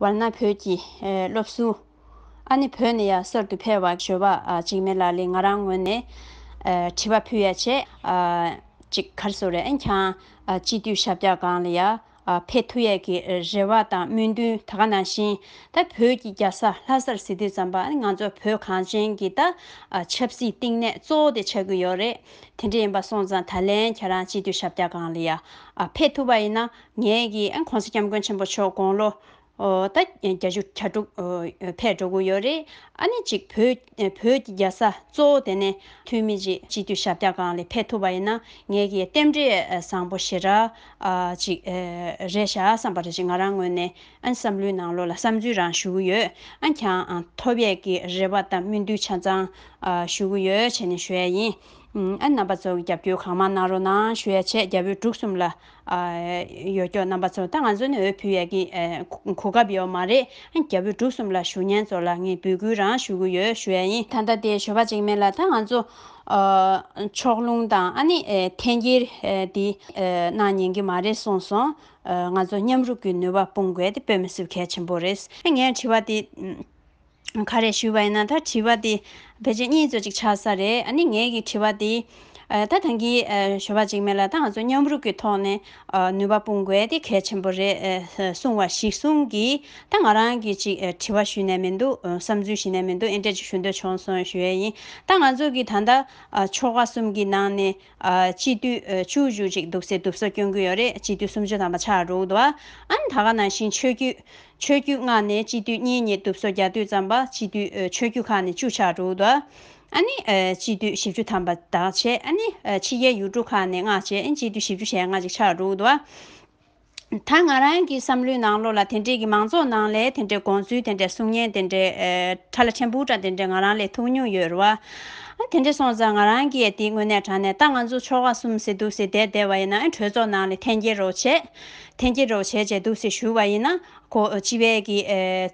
བར་ན་བོད་ཀྱི་སློབ་གསོ་ཨ་ནི་བོད་ནས་ཡར་གསར་དུ་འཕེལ་བར་བྱོས་པ་ཅིག་མེད་ལ་ལས་ང་རང་ངོས་ནས་དྲི་བ་ཕུལ་ཡ་ཆེ་ཅིག་གར་སོ་རེད་འིན་ཁྱང་སྤྱི་འཐུས་ཞབས་ཀྱག་གང་ལ་ཡར་འཕེལ་ཐུབ་ཡས་ཀྱི་རེ་བ་དང་སྨོན་འདུན་ད་ག་ནང་བཞིན་ད་བོད་ཀྱི་རྒྱ་ས་ལྷ་སར་ཟི་དུས་ཙམ་པ་ཨ་ནི་ང་ཚོ་བོད་གངས་ཅན་གྱི་ད་ཆབ་སྲིད་བསྟིང་གནས་གཙོ་བོ་དེ་ཆགས་ཀྱི་ཡོད་རེད་དེ་འདྲ་ཡིན་པ་སོང་ཙང་ད་ལན་ཁྱེད་རང་སྤྱི་འཐུས་ཞབས་ཀྱག་གང་ལ་ཡར་འཕེལ་ཐུབ་པ་ཡིན་ན་ངེད་ཀྱིས་ཨ ྋགོང་ས་སྐྱབས་མགོན་ཆེན་པོ་མཆོག་དགུང་ལོ་ད་གྱ་གཅིག་གྱ་དྲུག་ཕས་འགྲོ་གི་ཡོད་རེད། ཨ་ནེ་གཅིག་བོད་ཀྱི་རྒྱལ་ས་གཙོ་བོ་དེ་ནས་ཐུན་མི་གཅིག་སྤྱི་འཐུས་ཞབས་བཀྱག་གང་ལས་ཕེབས་ཐུབ་པ་ཡིན་ན་ངེད་ཀྱིས་རྟེན་འབྲེལ་བཟང་པོ་ཞེ་དྲག་ཅིག་རེད་བཞག་བསམ་པ་རེད་ཅེས་ང་རང་ངོས་ནས་ཨ་ནེ་བསམ་བློའི་ནང་ལོགས་ལ་བསམ་ཚུལ་རང་ཞུ་གི་ཡོད། ཨ ྋགྱང་ཐོབ་ཡས་ཀྱི་རེ་བ་དང་སྨོན་འདུན་ཆ་ཚང་ཞུ་གི་ཡོད་བྱས་ནས་ཞུ་ཡས་ཡིན། ཨ་ནེ་རྣམ་པ་ཚོ་གི་རྒྱབ་སྐྱོར་གང་མང་གནང་རོགས་གནང་ཞུ་ཡས་བྱས་རྒྱ་བོད་འབྲུག་གསུམ་ལ། ཡོད་སྐྱོ་རྣམ་པ་ཚོ་ད་ང་ཚོ་ནས་འོས་འཕུལ་ཡག་གི་གོ་སྐབས་ཡོད་མ་རེད་རྒྱ་བོད་འབྲུག་གསུམ་ལ་ཞུ་སྙན་ཚོར་ལ་ངས་འབུལ་སྐུལ་རང་ཞུ་གི་ཡོད་ཞུ་ཡ་ཡིན་ད་ལྟ་དེ་ཞོ་པ་ཅིག་མེད་ལ་ད་ང་ཚོ་ཕྱོགས་ལྷུང་དང་ཨ་ནི་འཐེན་འཁྱེར་དེ་གནང་ཉན་གི་མ་རེད་སོང་སོང་ང་ཚོ་མཉམ་རུབ་ཀྱི་ནུས་པ་སྤུངས་དགོས་དེ་བོད་མི་སུ་གལ་ཆེན་པོ་རེད་ངས་དྲི་བ་དེ། ག་རེ་ཞུས་པ་ཡིན་ན་ད་དྲི་བ་དེ་བེད་སྤྱད་གཉིས་ཚོད་ཅིག་ཆགས་ས་རེད་ཨ་ནི་ངའི་གི་དྲི་བ་དེ། ད་ཐང་གི་ཞོ་བ་ཅིག་མེད་ལ་ད་ང་ཚོ་མཉམ་རུབ་གི་ཐོག་ནས་ནུས་པ་སྤུངས་དགོས་དེ་གལ་ཆེན་པོ་རེད་གསུངས་བ་ཞིག་གསུངས་གི་ད་ང་རང་གི་ཅིག་དྲི་བ་ཞུས་ནས་མི་འདུག་བསམ་ཚུལ་ཞིག་ནས་མི་འདུག་ཨེ་འདྲས་ཅིག་ཞུ་འདོད་བྱུང་སོང་ཞུ་ཡས་ཡིན་ད་ང་ཚོ་གི་ད་ལྟ་ཕྱོགས་ཁག་གསུམ་གི་ནང་ནས། སྤྱི་འཐུས་བཅུ་བཞུགས་ཅིག་འདུག་སེ་འདུག་ས་སྐྱོན་གུ་ཡོད་རེད་སྤྱི་འཐུས་སུམ་ཅུ་དང་མ་ཆག་རུག་ད་ཨན་ད་ག་ནང་བཞིན་ཆོས་རྒྱུད་ཆོས་རྒྱུད་མངགས་ནས་སྤྱི་འཐུས་གཉིས་གཉིས་འདུག་སོ་རྒྱ་འཐུས་ཙམ་པ་སྤྱི་འཐུས་ཆོས་རྒྱུད་ཁག་ནས་བཅུ་ཆག་རུག་ད་ཨན་སྤྱི་འཐུས་བཞི་བཅུ་ཐམ་པ་དག་བྱས་ཨན་ཕྱི་རྒྱལ་ཡུལ་གྲུ་ཁག་ནས་མངགས་བྱས་ཨན་སྤྱི་འཐུས་བཞི་བཅུ་ཞེ་ལྔ་ཅིག་ཆག་རུག་ད་ཨན། ད་ང་རང་གི་བསམ་བློའི་ནང་བློ་ལ་དེ་འདྲས་ཀྱི་མང་ཚོགས་ནང་ལས་དེ་འདྲས་དགོངས་ཚུལ་དེ་འདྲས་གསུང་སྙན་དེ་འདྲས་ཁྲ་ལ་ཆེན་པོ་འདྲ་དེ་འདྲས་ང་རང་ལས་ཐུགས་ཉུང་ཡོད་རུ་བ། དེ་འདྲས་སོང་ཙང་ང་རང་གིས་དེ་དངོས་གནས་དྲང་ནས་ད་ང་ཚོ་ཕྱོགས་ཁག་གསུམ་སེ་འདུག་སེ་དེ་དེ་བ་ཡིན་ན་གྲོས་ཚོགས་ནང་ལས་འཐེན་འཁྱེར་རོགས་བྱེད། འཐེན་འཁྱེར་རོགས་བྱེད་བྱེད་འདུག་སེ་ཞུ་བ་ཡིན་ན། གོ་སྤྱི་བས་ཀྱི་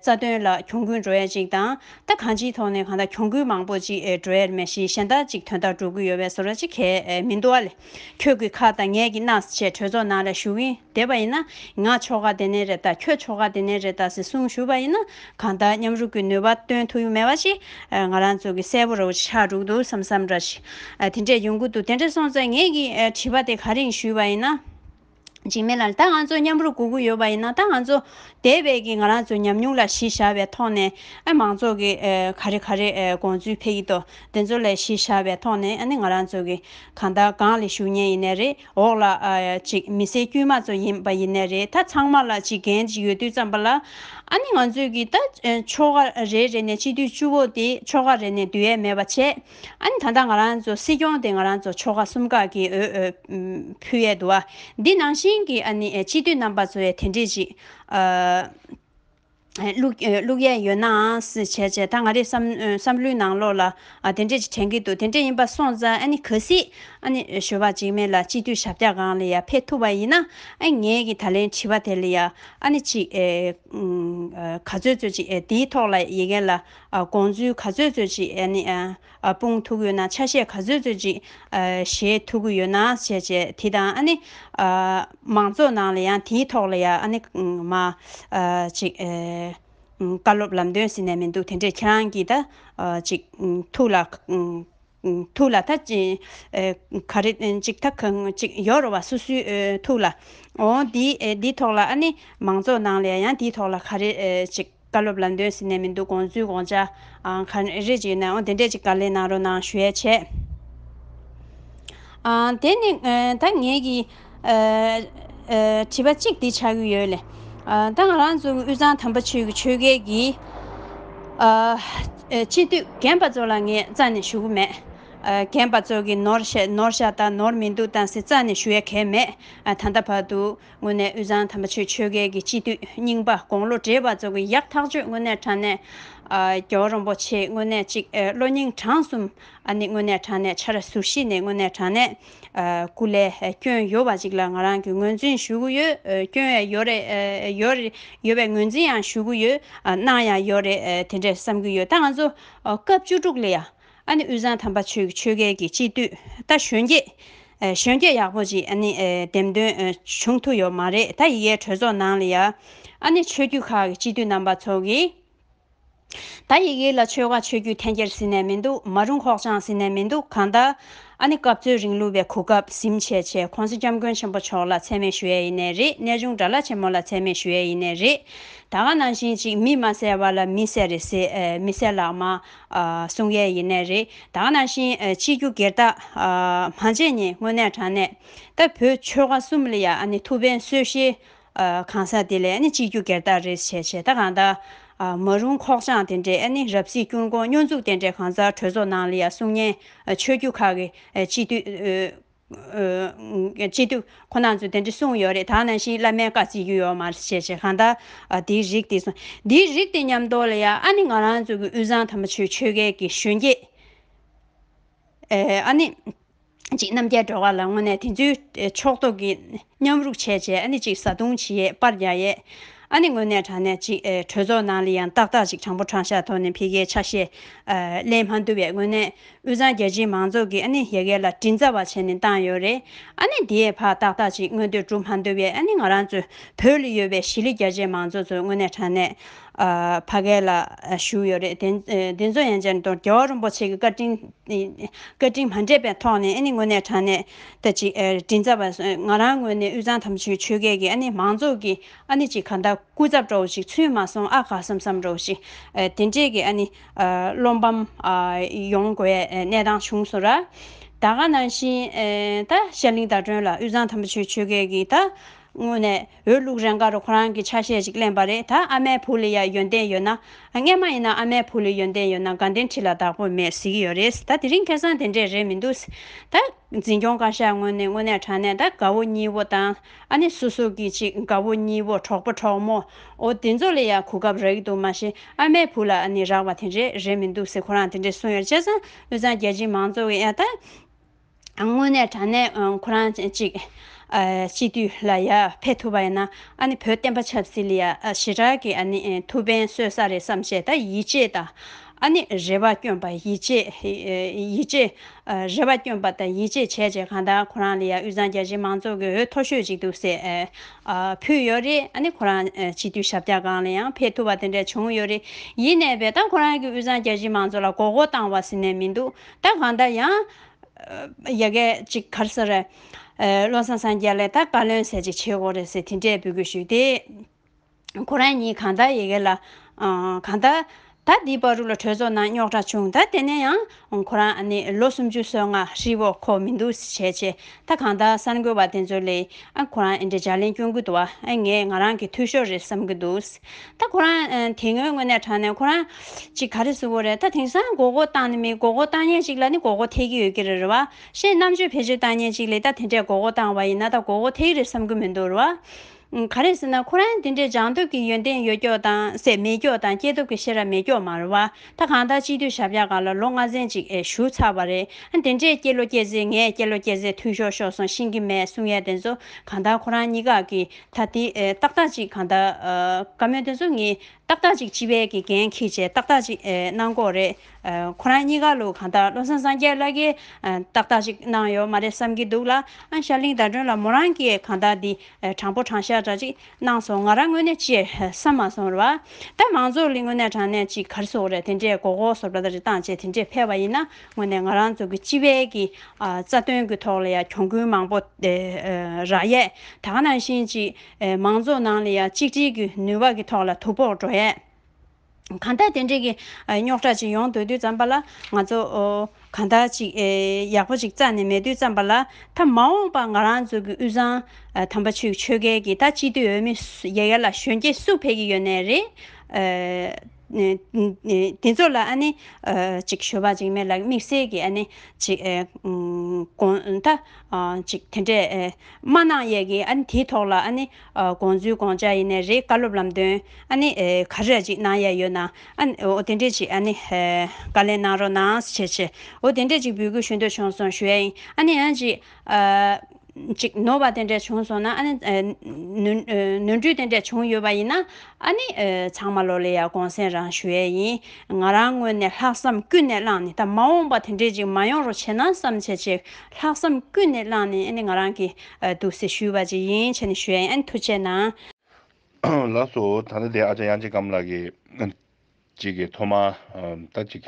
རྩ་དོན་ལ་གྱོང་གུན་འགྲོ་ཡ་ཅིག་དང། ད་གང་ཅིའི་ཐོག་ནས་གང་ད་གྱོང་གུན་མང་པོ་ཅིག་འགྲོ་ཡ་རེད་མ་གཞི་གཞན་དག་ཅིག་དོན་དག་འགྲོ་གི་ཡོད་བས་བཟོ་ར་ཅིག་གས་མིན་འདུག་ཨ་ལས། ཁྱོད་ཀྱི་ཁ་དང་ངས་ཀྱི་རྣ་ཟེར་བྱས་གྲོས་ཚོགས་ནང་ལ་ཞུགས་ཨིན་བསྡད་པ་ཡིན་ན་ང་ཆོ་ག་དེ་ནས་རེད་ད་ཁྱོད་ཆོ་ག་དེ་ནས་རེད་ད་ཟེར་གསུངས་ཞུས་པ་ཡིན་ན་གང་ལྟར་མཉམ་རུབ་ཀྱི་ནུས་པ་སྟོན་ཐུབ་ཡོད་མེད་བ་ཞིག་ང་རང་ཚོ་གིས་གསལ་པོ་རེ་བ་ཞིག་ཆགས་འདུག་འདུག་བསམ་བསམ་འདྲ་ཞིག་དེ་འདྲས་ཡོང་གི་འདུག་དེ་འདྲས་སོང་ཙང་ངས་ཀྱི་བྲིས་པ་དེ་ག་རིང་ཞུས་པ་ཡིན་ན། འཇིགས་མེད་ལ། ད་ང་ཚོ་མཉམ་རུབ་སྒུག་གི་ཡོད་པ་ཡིན་ན་ད་ང་ཚོ། དེ་བས་ཀྱི་ང་རང་ཚོའི་ཉམས་མྱོང་ལ་གཞི་བཞག་པའི་ཐོག་ནས། ཨ་མང་ཚོགས་ཀྱི་ག་རེ་ག་རེ་དགོངས་ཚུལ་ཕེབས་ཀྱི་འདུག་དེ་ཚོ་ལས་གཞི་བཞག་པའི་ཐོག་ནས་ཨ་ནི་ང་རང་ཚོ་ཀྱི། གང་ལྟར་སྒང་ལས་ཞུགས་ཉེན་ཡིན་ནས་རེད་འོག་ལ། ཅིག་མི་སེར་དཀྱུས་མ་ཚོ་ཡིན་པ་ཡིན་ནས་རེད་ད་ཚང་མ་ལ་ཅིག་འགན་ཅིག་ཡོད་དུས་ཙམ་པ་ལ། ཨ་ནི་ང་ཚོས་ཀྱི་ད་ཆོ་ག་རེ་རེ་ནས་སྤྱི་འཐུས་བཅུ་བོ་དེ་ཆོ་ག་རེ་ནས་འདུས་ཡས་མེད་པ་བྱས། ཨ་ནི་ད་ལྟ་ང་རང་ཚོ་སྲིད་སྐྱོང་དེ་ང་རང་ཚོ་ཕྱོགས་ཁག་གསུམ་ཁག་གི་འོས་འཕུལ་ཡས་འདུག་ཨ། འདི་ནང་བཞིན་གྱི་ཨ་ནི་སྤྱི་འཐུས་རྣམ་པ་ཚོ་ཡས་དེ་འདྲས་ཅིག་བླུགས་ཡས་ཡོད་ནའང་བྱས་བྱས་ད་ང་རེ་བསམ་བློའི་ནང་ལོགས་ལ་དེ་འདྲས་ཅིག་དྲན་གྱི་འདུག་དེ་འདྲས་ཡིན་པ་སོང་ཙང་ཨ་ནི་ག་སྲིད་ཨ་ནི་ཞོལ་བ་འཇིགས་མེད་ལ་སྤྱི་འཐུས་ཞབས་རྒྱ་གང་ལ་ཡང་ཕེབས་ཐུབ་པ་ཡིན་ན་ངས་ཀྱི་ད་ལན་དྲི་བ་དེ་ལ་ཡང་ཨ་ནི་ཅིག་ག་ཚོད་ཚོད་ཅིག་འདིའི་ཐོག་ལ་ཡི་གེ་ལ། དགོངས་ཚུལ་ག་ཚོད་རྩོད་ཅིག་ཨ་ནི། སྤུངས་ཐུག་ཡོད་ན་ཆ་ཤས་ག་ཚོད་རྩོད་ཅིག། ཞེས་ཐུག་གི་ཡོད་ན་བྱས་བྱས་དེ་དང་ཨ་ནི། མང་ཚོགས་ནང་ལ་ཡང་དེའི་ཐོག་ལ་ཡང་ཨ་ནི། མ། ཅིག། བཀའ་སློབ་ལམ་སྟོན་ཟེར་ནས་མི་འདུག་དེ་འདྲས་ཁྱེད་རང་གིས་ད། ཅིག། ཐུགས་ལ། ཐུགས་ལ་ད་ཅི། ག་རེ་གཅིག་ད་གང་གཅིག་ཡོད་རེད་བ་སུ་སུའི་ཐུགས་ལ། ཨོ། དེའི་ཐོག་ལ་ཨ་ནི་མང་ཚོགས་ནང་ལ་ཡང་དེའི་ཐོག་ལ་ག་རེ་གཅིག་བཀའ་སློབ་ལ་འདོན་ཟིན་ནས་མི་འདུག་དགོངས་ཚུལ་དགོངས་འཆར་ག་རེ་གཅིག་ཡོད་ན་ཨོ་དེ་འདྲས་གཅིག་བཀའ་ལན་གནང་རོགས་གནང་ཞུ་ཡས་བྱས། དེ་ནི་ད་ངེད་ཀྱི། བྱིས་པ་གཅིག་འདི་ཆགས་ཀྱི་ཡོད། ལས་ད་ང་རང་ཚོ་དབུས་གཙང་དམ་པ་ཆོས་ཀྱི་ཆོས་རྒྱལ་གྱི། སྤྱི་འཐུས་རྒན་པ་ཚོ་ལ་ངས་རྩ་ནས་ཞུ་གི་མེད། རྒན་པ་ཚོ་གི་ནོར་ནོར་ཤ་དང་ནོར་མི་འདུག་དང་ཟེར་རྩ་ནས་ཞུ་ཡ་གལ་མེད། ད་ལྟ་བར་དུ་དངོས་གནས་དབུས་གཙང་དམ་པ་ཆོས་ཆོས་རྒྱལ་གྱི་སྤྱི་འཐུས་རྙིང་པ་དགོང་ལོ་བགྲེས་པ་ཚོ་གི་ཡག་ཐག་གཅོད་དངོས་གནས་དྲང་གནས། རྒྱལ་བ་རོང་པོ་ཆེའི་དངོས་གནས་གཅིག་བློ་སྙིང་བྲང་གསུམ་ཨ་ནི་དངོས་གནས་དྲང་གནས་ཆ་ར་ཟུར་བཞི་ནས་དངོས་གནས་དྲང་གནས། ཀུ་ལེ། སྐྱོན་ཡོད་པ་ཅིག་ལ་ང་རང་གིས་ངོས་འཛིན་ཞུ་གི་ཡོད། སྐྱོན་ཡང་ཡོད་རེད། ཡོད་རེད། ཡོད་པའི་ངོས་འཛིན་ཡང་ཞུ་གི་ཡོད། སྣང་ཡང་ཡོད་རེད་དེ་འདྲས་བསམ་གྱི་ཡོད། ད་ང་ཚོ། སྐབས་བཅུ་དྲུག་ལ་ཡང། ཨ་ནི་དབུས་གཙང་དམ་པ་ཆོས་ཀྱི་ཆོས་རྒྱལ་གྱི་སྤྱི་འཐུས། ད་གཞོན་སྐྱེས། གཞོན་སྐྱེས་ཡག་པོ་ཅིག་ཨ་ནི། འདེམས་ཐོན། བྱུང་ཐུབ་ཡོད་མ་རེད། ད་ཡི་གེའི་གྲོས་ཚོགས་ནང་ལ་ཡང། ཨ་ནི་ཆོས་བརྒྱུད་ཁག་གི་སྤྱི་འཐུས་རྣམ་པ་ཚོ་གིས། ད་ཡིག་ཡིག་ལ་ཆོལ་ཁ་ཆོས་རྒྱུད་འཐེན་འཁྱེར་ཟིན་ནས་མི་འདུག་མ་རུང་ཁོག་བཅངས་ཟིན་ནས་མི་འདུག་གང་ལྟར། ཨ་ནི་སྐབས་རྩོད་རིང་ལུས་པའི་གོ་སྐབས་ཟིམ་ཆེ་ཆེ་གོང་ས་སྐྱབས་མགོན་ཆེན་པོ་མཆོག་ལ་ཚད་མེད་ཞུ་ཡས་ཡིན་ནས་རེད་གནས་ཆུང་དགྲ་བླ་ཆེན་མོ་ལ་ཚད་མེད་ཞུ་ཡས་ཡིན་ནས་རེད་ད་ག་ནང་བཞིན་ཅིག་མི་མ་གསལ་བ་ལ་མི་གསལ་རེ་ཟེ་མི་གསལ་ལགས་མ་གསུང་ཡས་ཡིན་ནས་རེད་ད་ག་ནང་བཞིན་སྤྱི་རྒྱུ་སྒེར་བདག་མ་བྱས་ཉེ་སྔོན་ནས་དྲང་གནས་ད་བོད་ཆོལ་ཁ་གསུམ་ལ་ཡ་ཨ་ནི་ཐུགས་ཕན་གསོས་ཤེས་གང་ཟག་དེ་ལས་སྤྱི་རྒྱུ་སྒེར་བདག་རེས་བྱས་བྱེད་ད་གང་ད། མ་རུང་ཁོག་བཅངས་དེ་འདྲས་རབ་གཟིགས་སྐྱུར་འགོང་སྨྱོ་འཛུགས་དེ་འདྲས་གང་ཟག་གྲོས་ཚོགས་ནང་ལ་ཡང་གསུང་སྙན་ཆོས་རྒྱུད་ཁག་གི་སྤྱི་འཐུས། སྤྱི་འཐུས་ཁོ་ནག་ཚོས་དེ་འདྲས་གསུང་ཡོད་རེད་ད་ནང་བཞིན་བླ་མའི་བཀའ་བརྩི་རྒྱུ་ཡོད་མ་རེད་བྱས་བྱས་གང་ད། དེའི་རིགས་དེ་སོང་དེའི་རིགས་དེ་ཉམས་རྟོགས་ལ་ཡང་ཨ་ནི་ང་རང་ཚོ་གི་དབུས་གཙང་དམ་པ་ཆོས་ཆོས་རྒྱལ་གྱི་གཞོན་སྐྱེས། ཨ་ནི། གཅིག་རྣམ་རྒྱལ་འགྲོ་བ་ལ་དངོས་གནས་དེ་ཚོའི་ཕྱོགས་གཏོགས་ཀྱི་མཉམ་རུག་བྱས་བྱས་ཨ་ནི་གཅིག་བཟའ་བཏུང་བྱེད་ཡས་པར་རྒྱག་ཡས། ཨ་ནི་དངོས་གནས་དྲང་གནས་གཅིག་གྲོས་ཚོགས་ནང་ལ་ཡང་ཏག་ཏག་ཅིག་དྲང་པོ་དྲང་ཤག་ཐོག་ནས་འཕེལ་རྒྱས་ཆ་ཤས་གླེང་མ་འདུག་པས་དངོས་གནས་དབུས་གཙང་རྒྱལ་སྤྱིའི་མང་ཚོགས་ཀྱིས་ཨ་ནི་ཡ་གལ་ལ་དྲིན་ཚ་བ་བྱས་ནས་བཏང་ཡོད་རེད། ཨ་ནི་དེའི་བར་ཏག་ཏག་ཅིག་མངོན་འདོད་གྲུབ་མ་འདུག་པས་ཨ་ནི་ང་རང་ཚོ་བོད་ལ་ཡོད་པའི་གཞིས་ལུས་རྒྱ་ཆེའི་མང་ཚོགས་ཚོ་དངོས་གནས་དྲང་གནས་ཕ་གས་ལ་བཞུགས་ཡོད་རེད་དེ་ཚོ་ཡང་བཅར་འདུག་རྒྱལ་བ་རོན་པོ་ཆེ་གི་བཀའ་དྲིན་བཀའ་དྲིན་མ་འདྲེས་པའི་ཐོག་ནས་དངོས་གནས་དྲང་གནས་དྲིན་ཚ་བ་ང་རང་ངོས་ནས་དབུས་གཙང་དམ་ཆོས་ཆོས་སྐད་ཀྱི་མང་ཚོགས་ཀྱི་གཅིག་ག་ད་སྐུ་ཚབ་སྤྲོ་བ་ཞིག་ཚུན་མ་སོང་ཨ་ཁ་སམ་སམ་རོ་ཞིག་དེ་འདྲས་ཀྱི་བློ་འབམ་ཡོང་དགོས་གནས་སྟངས་བྱུང་སོང་ར་ད་ག་ནང་བཞིན་ད་ཤར་གླིང་དྭ་སྒྲོན་ལ་དབུས་གཙང་དམ་ཆོས་ཆོས་སྐད་ཀྱི་ད་དངོས་གནས། འོས་བླུག་རན་ཁར་ཁོ་རང་གིས་ཆ་ཤས་ཅིག་གླེང་བ་རེད་ད་ཨ་མའི་བུ་ལ་ཡང་ཡོན་ཏན་ཡོད་ན། རྔན་མ་ཡིན་ན་ཨ་མའི་བུ་ལ་ཡོན་ཏན་ཡོད་ན་དགའ་ལྡན་ཁྲི་ལ་བདག་པོ་མེད་ཟེར་གྱི་ཡོད་རེད་ད་དེ་རིང་ཁེ་སང་དེ་འདྲས་རེད་མི་འདུག་ད། འཛིན་སྐྱོང་བཀའ་ཤག་ངོས་ནས་དངོས་གནས་དྲང་གནས་ད་དགའ་བོ་གཉིས་བོ་དང་ཨ་ནེ་སོ་སོ་གིས་ཅིག་དགའ་བོ་གཉིས་བོ་གྲོགས་པོ་གྲོགས་མོ། འོ་དེ་ཚོ་ལ་ཡང་གོ་སྐབས་རག་གི་འདུག་མ་གཞི་ཨ་མའི་བུ་ལ་ནི་རག་པ་དེ་འདྲས་རེད་མི་འདུག་ཟེར་ཁོ་རང་དེ་འདྲས་གསུངས་ཡོད་རེད་བྱས་ཙང་དངོས་གཙང་རྒྱལ་སྤྱིའི་མང་གཙོ་གི་ཨ་ད། དངོས་གནས་དྲ་གནས་ཁོ་རང་གཅིག་སྤྱི་འཐུས་ལ་ཡར་ཕེབས་ཐུབ་པ་ཡིན་ན་ཨ་ནི་བོད་བསྟན་པ་ཆབ་སྲིད་ལ་ཞེ་དྲག་གི་ཨ་ནི་ཐུགས་ཕན་གསོས་ས་རེད་བསམ་བཞེད་དང་ཡིད་ཆེས་དང་ཨ་ནི་རེ་བ་སྐྱོན་པ་ཡིད་ཆེས་རེ་བ་སྐྱོན་པ་དང་ཡིད་ཆེས་བྱས་བྱས་གང་ལྟར་ཁོ་རང་ལ་ཡང་དབུས་གཙང་རྒྱ་ཆེའི་མང་ཚོགས་ཀྱི་འོས་མཐོ་ཤོས་ཅིག་འདུག་ཟེར་ཕུལ་ཡོད་རེད་ཨ་ནི་ཁོ་རང་སྤྱི་འཐུས་ཞབས་བཀྱག་སྒང་ལ་ཡང་ཕེབས་ཐུབ་པ་དེ་འདྲ་བྱུང་ཡོད་རེད་ཡིན་ནའི་བས་ད་ཁོ་རང་གིས་དབུས་གཙང་རྒྱ་ཆེའི་མང་ཚོགས་ལ་མགོ་སྐོར་བཏང་བ་ཟིན་ནས་མི་འདུག་ད་གང་ལྟར་ཡང། ཡ་གད་ཅིག་གར་ས་རེད། བློ་བཟང་སངས་རྒྱས་ལས་ད་བཀའ་བློན་ཟེར་ཅིག་བྱེད་དགོས་རེད་ཟེར་དེ་འདྲས་འབུལ་དགོས་ཞུས་ཏེ། ཁོ་རང་གཉིས་གང་ལྟར་ཡ་གད་ལ། གང་ལྟར། ད་འདི་བར་རུ་ལ་གྲོས་ཚོགས་ནང་རྙོག་དྲ་བྱུང་ད་དེ་ནས་ཡང། ཁོ་རང་ནི་ལོ་སུམ་ཅུ་སོ་ལྔ་ཧྲིལ་བོ་ཁོ་མི་འདུག་བྱས་ཆེ། ད་གང་ལྟར་གསར་འགོད་པ་དེ་ཚོ་ལས། ཁོ་རང་འདྲ་ལྗགས་ལན་སྐྱོན་གུ་དོག་ངས་ང་རང་གི་འཐུས་ཤོར་རེད་བསམ་གི་འདུག། ད་ཁོ་རང་དེ་སྔོན་དངོས་གནས་དྲང་གནས་ཁོ་རང་ཅིག་ག་རེ་བཟོ་བོ་རེད་ད་དེང་སང་མགོ་སྐོར་བཏང་ནི་མི་མགོ་སྐོར་བཏང་ཉན་ཅིག་ལ་ནི་མགོ་སྐོར་ཐེག་གི་ཡོད་ཀྱི་རེད་རེད་བ་ཤེས་རྣམ་དཔྱོད་བེད་སྤྱོད་བཏང་ཉན་ཅིག་ལས་ད་དེ་འདྲས་མགོ་སྐོར་བཏང་བ་ཡིན་ན་ད་མགོ་སྐོར་ཐེག་རེད་བསམ་གི་མི་འདུག་རེད་བ། ག་རེ་ཟེར་ན་ཁོ་རང་འདི་འདྲས་སྦྱང་སྟོབས་ཀྱི་ཡོན་ཏན་ཡོད་ཀྱོག་དང་སེ་མེད་ཀྱོག་དང་སྐྱེས་སྟོབས་ཀྱི་ཤེས་རབ་མེད་ཀྱོག་མ་རེད་བ་ད་གང་ལྟར་སྤྱི་འཐུས་ཞབས་བཀྱག་ག་ལ་ལོ་ལྔ་ཚན་གཅིག་བཞུགས་ཚར་བ་རེད་ཨ་དེ་འདྲས་སྐྱེས་ལོ་སྐྱེས་ཟེར་ངས་སྐྱེས་ལོ་སྐྱེས་ཟེར་ཐུགས་ཤོག་ཤོག་སོང་ཤིང་གི་མས་གསུང་ཡས་དེ་ཚོ་གང་ལྟར་ཁོ་རང་གཉིས་ཀ་གི་ད་དེ་ཏག་ཏག་ཅིག་གང་ལྟར་བཀའ་མོལ་དེ་ཚོ་ངས་ཏག་ཏག་ཅིག་སྤྱི་བལ་གྱི་འགན་ཁྱེད་ཆེད་ཏག་ཏག་ཅིག་གནང་དགོས་རེད། ཁོ་རང་གཉིས་ཀ་ལོ་གང་ལྟར་བློ་བཟང་སངས་རྒྱས་བླ་རྒན་ཏག་ཏག་ཅིག་གནང་ཡོད་མ་རེད་བསམ་གྱི་འདུག་ལ། ཤར་གླིང་ཟླ་སྒྲོན་ལ་མོ་རང་གིས་གང་ལྟར་འདི་དྲང་པོ་དྲང་བཞག་འདྲ་ཅིག་གནང་སོང་ང་རང་དངོས་གནས་སྤྱིར་བསམ་མ་སོང་བ། ད་མང་ཚོགས་ལི་ངོ་ནས་དྲང་གནས་ཅིག་གར་སོགས་རེད་དེ་འདྲས་གོ་གོ་སོགས་འདྲ་འདྲ་རེ་བཏང་རྗེས་དེ་འདྲས་ཕེབས་པ་ཡིན་ན་དངོས་ནས་ང་རང་ཚོ་གི་སྤྱི་བའི་གི་རྩ་དོན་གི་ཐོག་ལ་ཡང་གྱོང་གུན་མང་པོ་རག་ཡས་དག་ནང་བཞིན་གཅིག་མང་ཚོགས་ནང་ལ་ཡང་གཅིག་སྒྲིལ་གི་ནུས་བ་གི་ཐོག་ལ་དུ་ཕོག་འགྲོ་ཡས། གང་ལྟར་དེ་འདྲིས་གི་རྙོག་དྲ་ཅིག་ཡོང་དུས་དུས་ཙམ་པ་ལ་ང་ཚོ་གང་ལྟར་ཅིག་ཡག་པོ་ཅིག་རྩ་ནས་མེད་དུས་ཙམ་པ་ལ་ད་མ་འོངས་པ་ང་རང་ཚོ་གི་དབུས་གཙང་དམ་པ་ཆོས་ཆོས་སྐལ་གི་ད་སྤྱི་འཐུས་འོས་མི་ཡ་ཡ་ལ་གཞོན་སྐྱེས་སུ་ཕེབས་ཀྱི་ཡོད་ནའི་རེད། དེ་ཚོ་ལ་ནི། ཅིག་ཞོལ་བ་ཅིག་མེད་ལ་དམིགས་བསལ་གྱི་ནི། ཅིག། དགོངས། མཐའ། ཅིག་དེ་འདྲས། སྨྲ་ནག་གཡས་ཀྱི་ཨ་ནི་དེའི་ཐོག་ལ་ཨ་ནི། དགོངས་ཚུལ་དགོངས་འཇགས་ཡེ་ནས་རེད་བཀའ་སློབ་ལམ་སྟོན། ཨ་ནི། ག་རེ་ར་ཅིག་གནང་ཡས་ཡོད་ན། ཨ་ནི། འོ་དེ་འདྲས་ཅིག་ཨ་ནི། བཀའ་ལན་གནང་རོགས་གནང། ཞེས། འོ་དེ་འདྲས་ཅིག་འབུལ་དགོས་ཞུ་འདོད་བྱུང་སོང་ཞུ་ཡས་ཨ་ནི་ཨ་ཅིག། ཅིག་ནོར་བ་དེ་འདྲས་བྱུང་སོང་ན་ཨ་ནི། ནོར་འཁྲུལ་དེ་འདྲས་བྱུང་ཡོད་པ་ཡིན་ན། ཨ་ནི། ཚང་མ་ལོ་ལེ་ཡར་དགོངས་སེམས་རང་ཞུ་ཡས་ཡིན། ང་རང་སྔོན་ནས་ལྷག་བསམ་ཀུན་ནས་བླངས་ནས་ད་མ་འོངས་པ་དེ་འདྲས་ཅིག་མ་ཡོང་རོགས་བྱེད་ན་བསམ་བྱས་ཅིག་ལྷག་བསམ་ཀུན་ནས་བླངས་ནས་ཨ་ནི་ང་རང་གི། འདུག་སེ་ཞུས་བ་ཅིག་ཡིན་བྱས་ནས་ཞུ་ཡས་ཡིན་ཨ་ནི་ཐུགས་ཆེ་གནང། ལགས་སོ། ད་ལྟ་དེ་ཨ་ཅག་དབྱངས་ཅན་སྒམ་ལགས་ཀྱིས། གཅིག་གིས་ཐོག་མར། ད་ཅིག།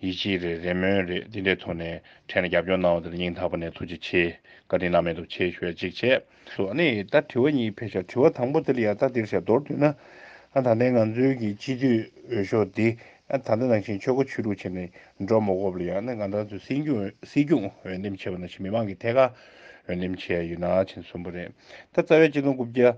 ཡིད་ཆེས་རེད་རེ་སྨོན་རེད་འདི་འདྲའི་ཐོག་ནས་ཕྲན་ལ་རྒྱབ་སྐྱོར་གནང་བ་དེ་ལ་སྙིང་ཐག་པ་ནས་ཐུགས་རྗེ་ཆེ། བཀའ་དྲིན་བླ་མེད་དུ་ཆེ་ཞུ་བ་གཅིག་བྱས། སུ་ཨ་ནི་ད་དྲི་བ་གཉིས་འཕེལ་ཤག་དྲི་བ་དང་པོ་དེ་ལ་ཡང་ད་འདིར་ཤག་མདོར་བསྡུས་ན། ད་ལྟའི་ང་ཚོའི་གི་སྤྱི་འཐུས་འོས་ཤོག་འདི་ད་ལྟ་ནང་བཞིན་ཆོལ་ཁ་ཆོས་ལུགས་ཆེད་ནས་འགྲོ་མ་གོ་བ་ལ་ཡང་ན་ང་ད་གཟོད་སྲིད་སྐྱོང་འོས་འདེམས་བྱས་པ་ནང་བཞིན་མི་མང་གི་ཐད་ཀར་འོས་འདེམས་བྱས་ཡོད་ན་ཕྱིན་གསུམ་པོ་རེད་ད་རྩ་བའི་སྤྱི་དོན་རྐུབ་བཀྱག་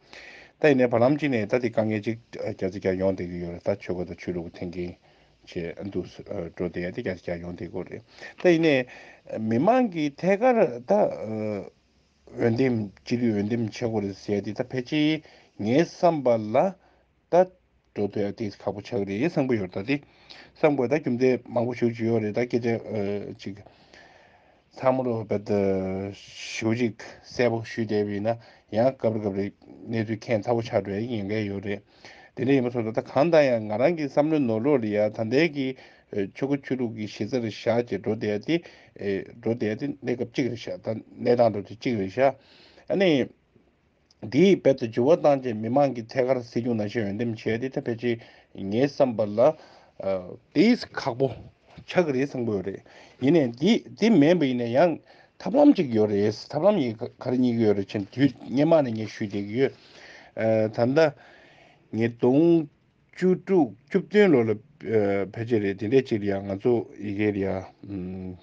ད་ཡིན་ནའི་བར་ལམ་གཅིག་ནས་ད་དེ་ཀ་ངེ་གཅིག་རྒྱ་ཚིག་ཀྱང་ཡོང་བསྡད་ཀྱི་ཡོད་རེད་ད་ཆོས་གོས་དང་ཆོས་ལུགས་ཀྱི་འཐེན་འཁྱེར་བྱེད་འདུག་འགྲོ་བསྡད་ཡ་དེ་རྒྱ་ཚིག་ཀྱང་ཡོང་བསྡད་དགོས་རེད་ད་ཡིན་ནའི། མི་མང་གིས་ཐད་ཀར་ད་འོས་འདེམས་སྤྱི་ལུས་འོས་འདེམས་བྱེད་དགོས་རེད་ཟེར་ཡ་དེ་ད་ཕལ་ཆེར་ངའི་བསམ་པ་ལ་ད། འགྲོ་འདོད་ཨ་ཏིས་ཁག་པོ་ཆགས་རེད་བསམ་གི་ཡོད་རེད་ད་དེ། བསམ་གོ་ད་རྒྱུ་མཚན་མང་པོ་ཞུ་ཅི་ཡོད་རེད་ད་སྐད་ཆ་གཅིག། ཚང་མ་རོ་བེད། ཞུ་གཅིག་གསལ་པོ་ཞུས་བསྡད་པ་ཡིན་ན་ཡང་སྐབས་རེ་སྐབས་རེ་གནས་ཚུལ་ཁྱད་མཚར་པོ་ཆགས་འགྲོ་ཡ་ཡིན་ག་ཡོད་རེད། དེ་འདྲ་ཡིན་པ་སོགས་ད་གང་ལྟར་ཡང་ང་རང་གི་བསམ་བློའི་ནོར་ལོག་རེད་ཡ་ད་འདས་ཀྱི་ཆོས་ཁོ་ཆོས་ལུགས་ཀྱི་གཞི་རྩ་རེད་ཤག་ཅེས་འགྲོ་འདོད་ཨ་ཏི། འགྲོ་འདོད་ཨ་ཏི་གནས་སྐབས་གཅིག་རེད་ཤག་ད་གནས་སྟངས་འགྲོ་འདོད་གཅིག་རེད་ཤག་ཨ་ནི། འདིས་རྦད་དེ་འགྱུར་བ་བཏང་རྗེས་མི་མང་གིས་ཐད་ཀར་སྲིད་སྐྱོང་ནང་བཞིན་འོས་འདེམས་བྱས་ཏེ་ཐབས་ཕལ་ཆེར་ངའི་བསམ་པ་ལ། དེས་ཁག་པོ་ཆགས་ཀྱི་རེད་བསམ་དགོས་རེད། ཡིན་ནའི་འདི་འདི་མེད་པ་ཡིན་ན་ཡང་ཐབས་ལམ་ཅིག་ཡོད་རེད་ཐབས་ལམ་ཡིན་ག་རེ་རྙེད་ཀྱི་ཡོད་རེད་ཅེས་དུས་སྙེ་མ་ནས་ངས་ཞུས་བསྡད་ཀྱི་ཡོད། ད་ལྟ། ཉིས་སྟོང་བཅུ་དྲུག་བཅུ་བདུན་ལོ་ལ་ཕལ་ཆེར་རེད་འདི་འདྲས་ཅིག་ལ་ཡང་ང་ཚོ་ཡི་གེ་རེད་ཡ།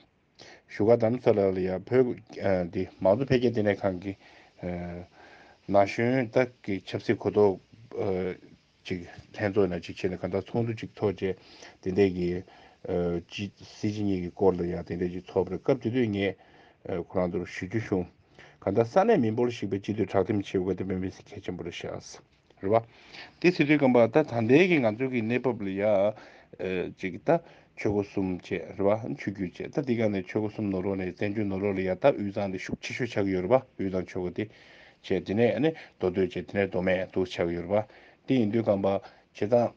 བཞུགས་སྒར་དམ་ཚགས་ལགས་ལ་ཡང་བོད་ཀྱི་མང་གཙོ་འཕེལ་རྒྱས་ལྟེ་གནས་ཁང་གི་ན་གཞོན་དག་གི་ཆབ་སྲིད་གོ་རྟོགས་ཅིག་ལྷན་ཚོགས་ནས་ཅིག་བྱས་ནས་གང་ལྟར་ཚོགས་འདུ་ཅིག་ཚོགས་རྗེས་དེ་འདས་ཀྱི་སྲིད་སྤྱི་གཉིས་ཀྱི་སྐོར་ལ་ཡང་དེ་འདས་ཅིག་ཚོགས་པར་སྐབས་དེ་དུས་ངས་ཁོ་རང་ཚོར་ཞུ་རྒྱུ་བྱུང། གང་ལྟར་ས་གནས་མི་འབོར་བཤིག་པའི་སྤྱི་འཐུས་དྲག་འཐིམ་ཆེ་བའི་སྒོ་དེ་བོད་མི་གལ་ཆེན་པོ་རེད་ཤག། རེད་བ། དེ་སི་ཏུའི་སྐམ་པ་ད་ད་འདའི་གི་ང་ཚོའི་གི་གནས་བབ་ལ་ཡ། ཅིག་གི་ད་ཆོས་སྒོ་གསུམ་བཅས་རེད་བ་ཆོས་རྒྱུད་བཅས་ད་འདི་ག་ནས་ཆོས་སྒོ་གསུམ་ནོར་བ་ནས་བཙན་བྱོལ་ནོར་བ་ལ་ཡ་ད་དབུས་གཙང་དེ་ཤུགས་ཆེ་ཤོས་ཆགས་གི་ཡོད་རེད་བ་དབུས་གཙང་ཆོས་སྒོ་དེ། བཅས་དེ་ནས་ནི་མདོ་སྟོད་བཅས་དེ་ནས་མདོ་སྨད་དུ་ཆགས་གི་ཡོད་རེད་བ། དེ་ཡིན་དུས་སྐམ་པ་བྱེད་སྟངས།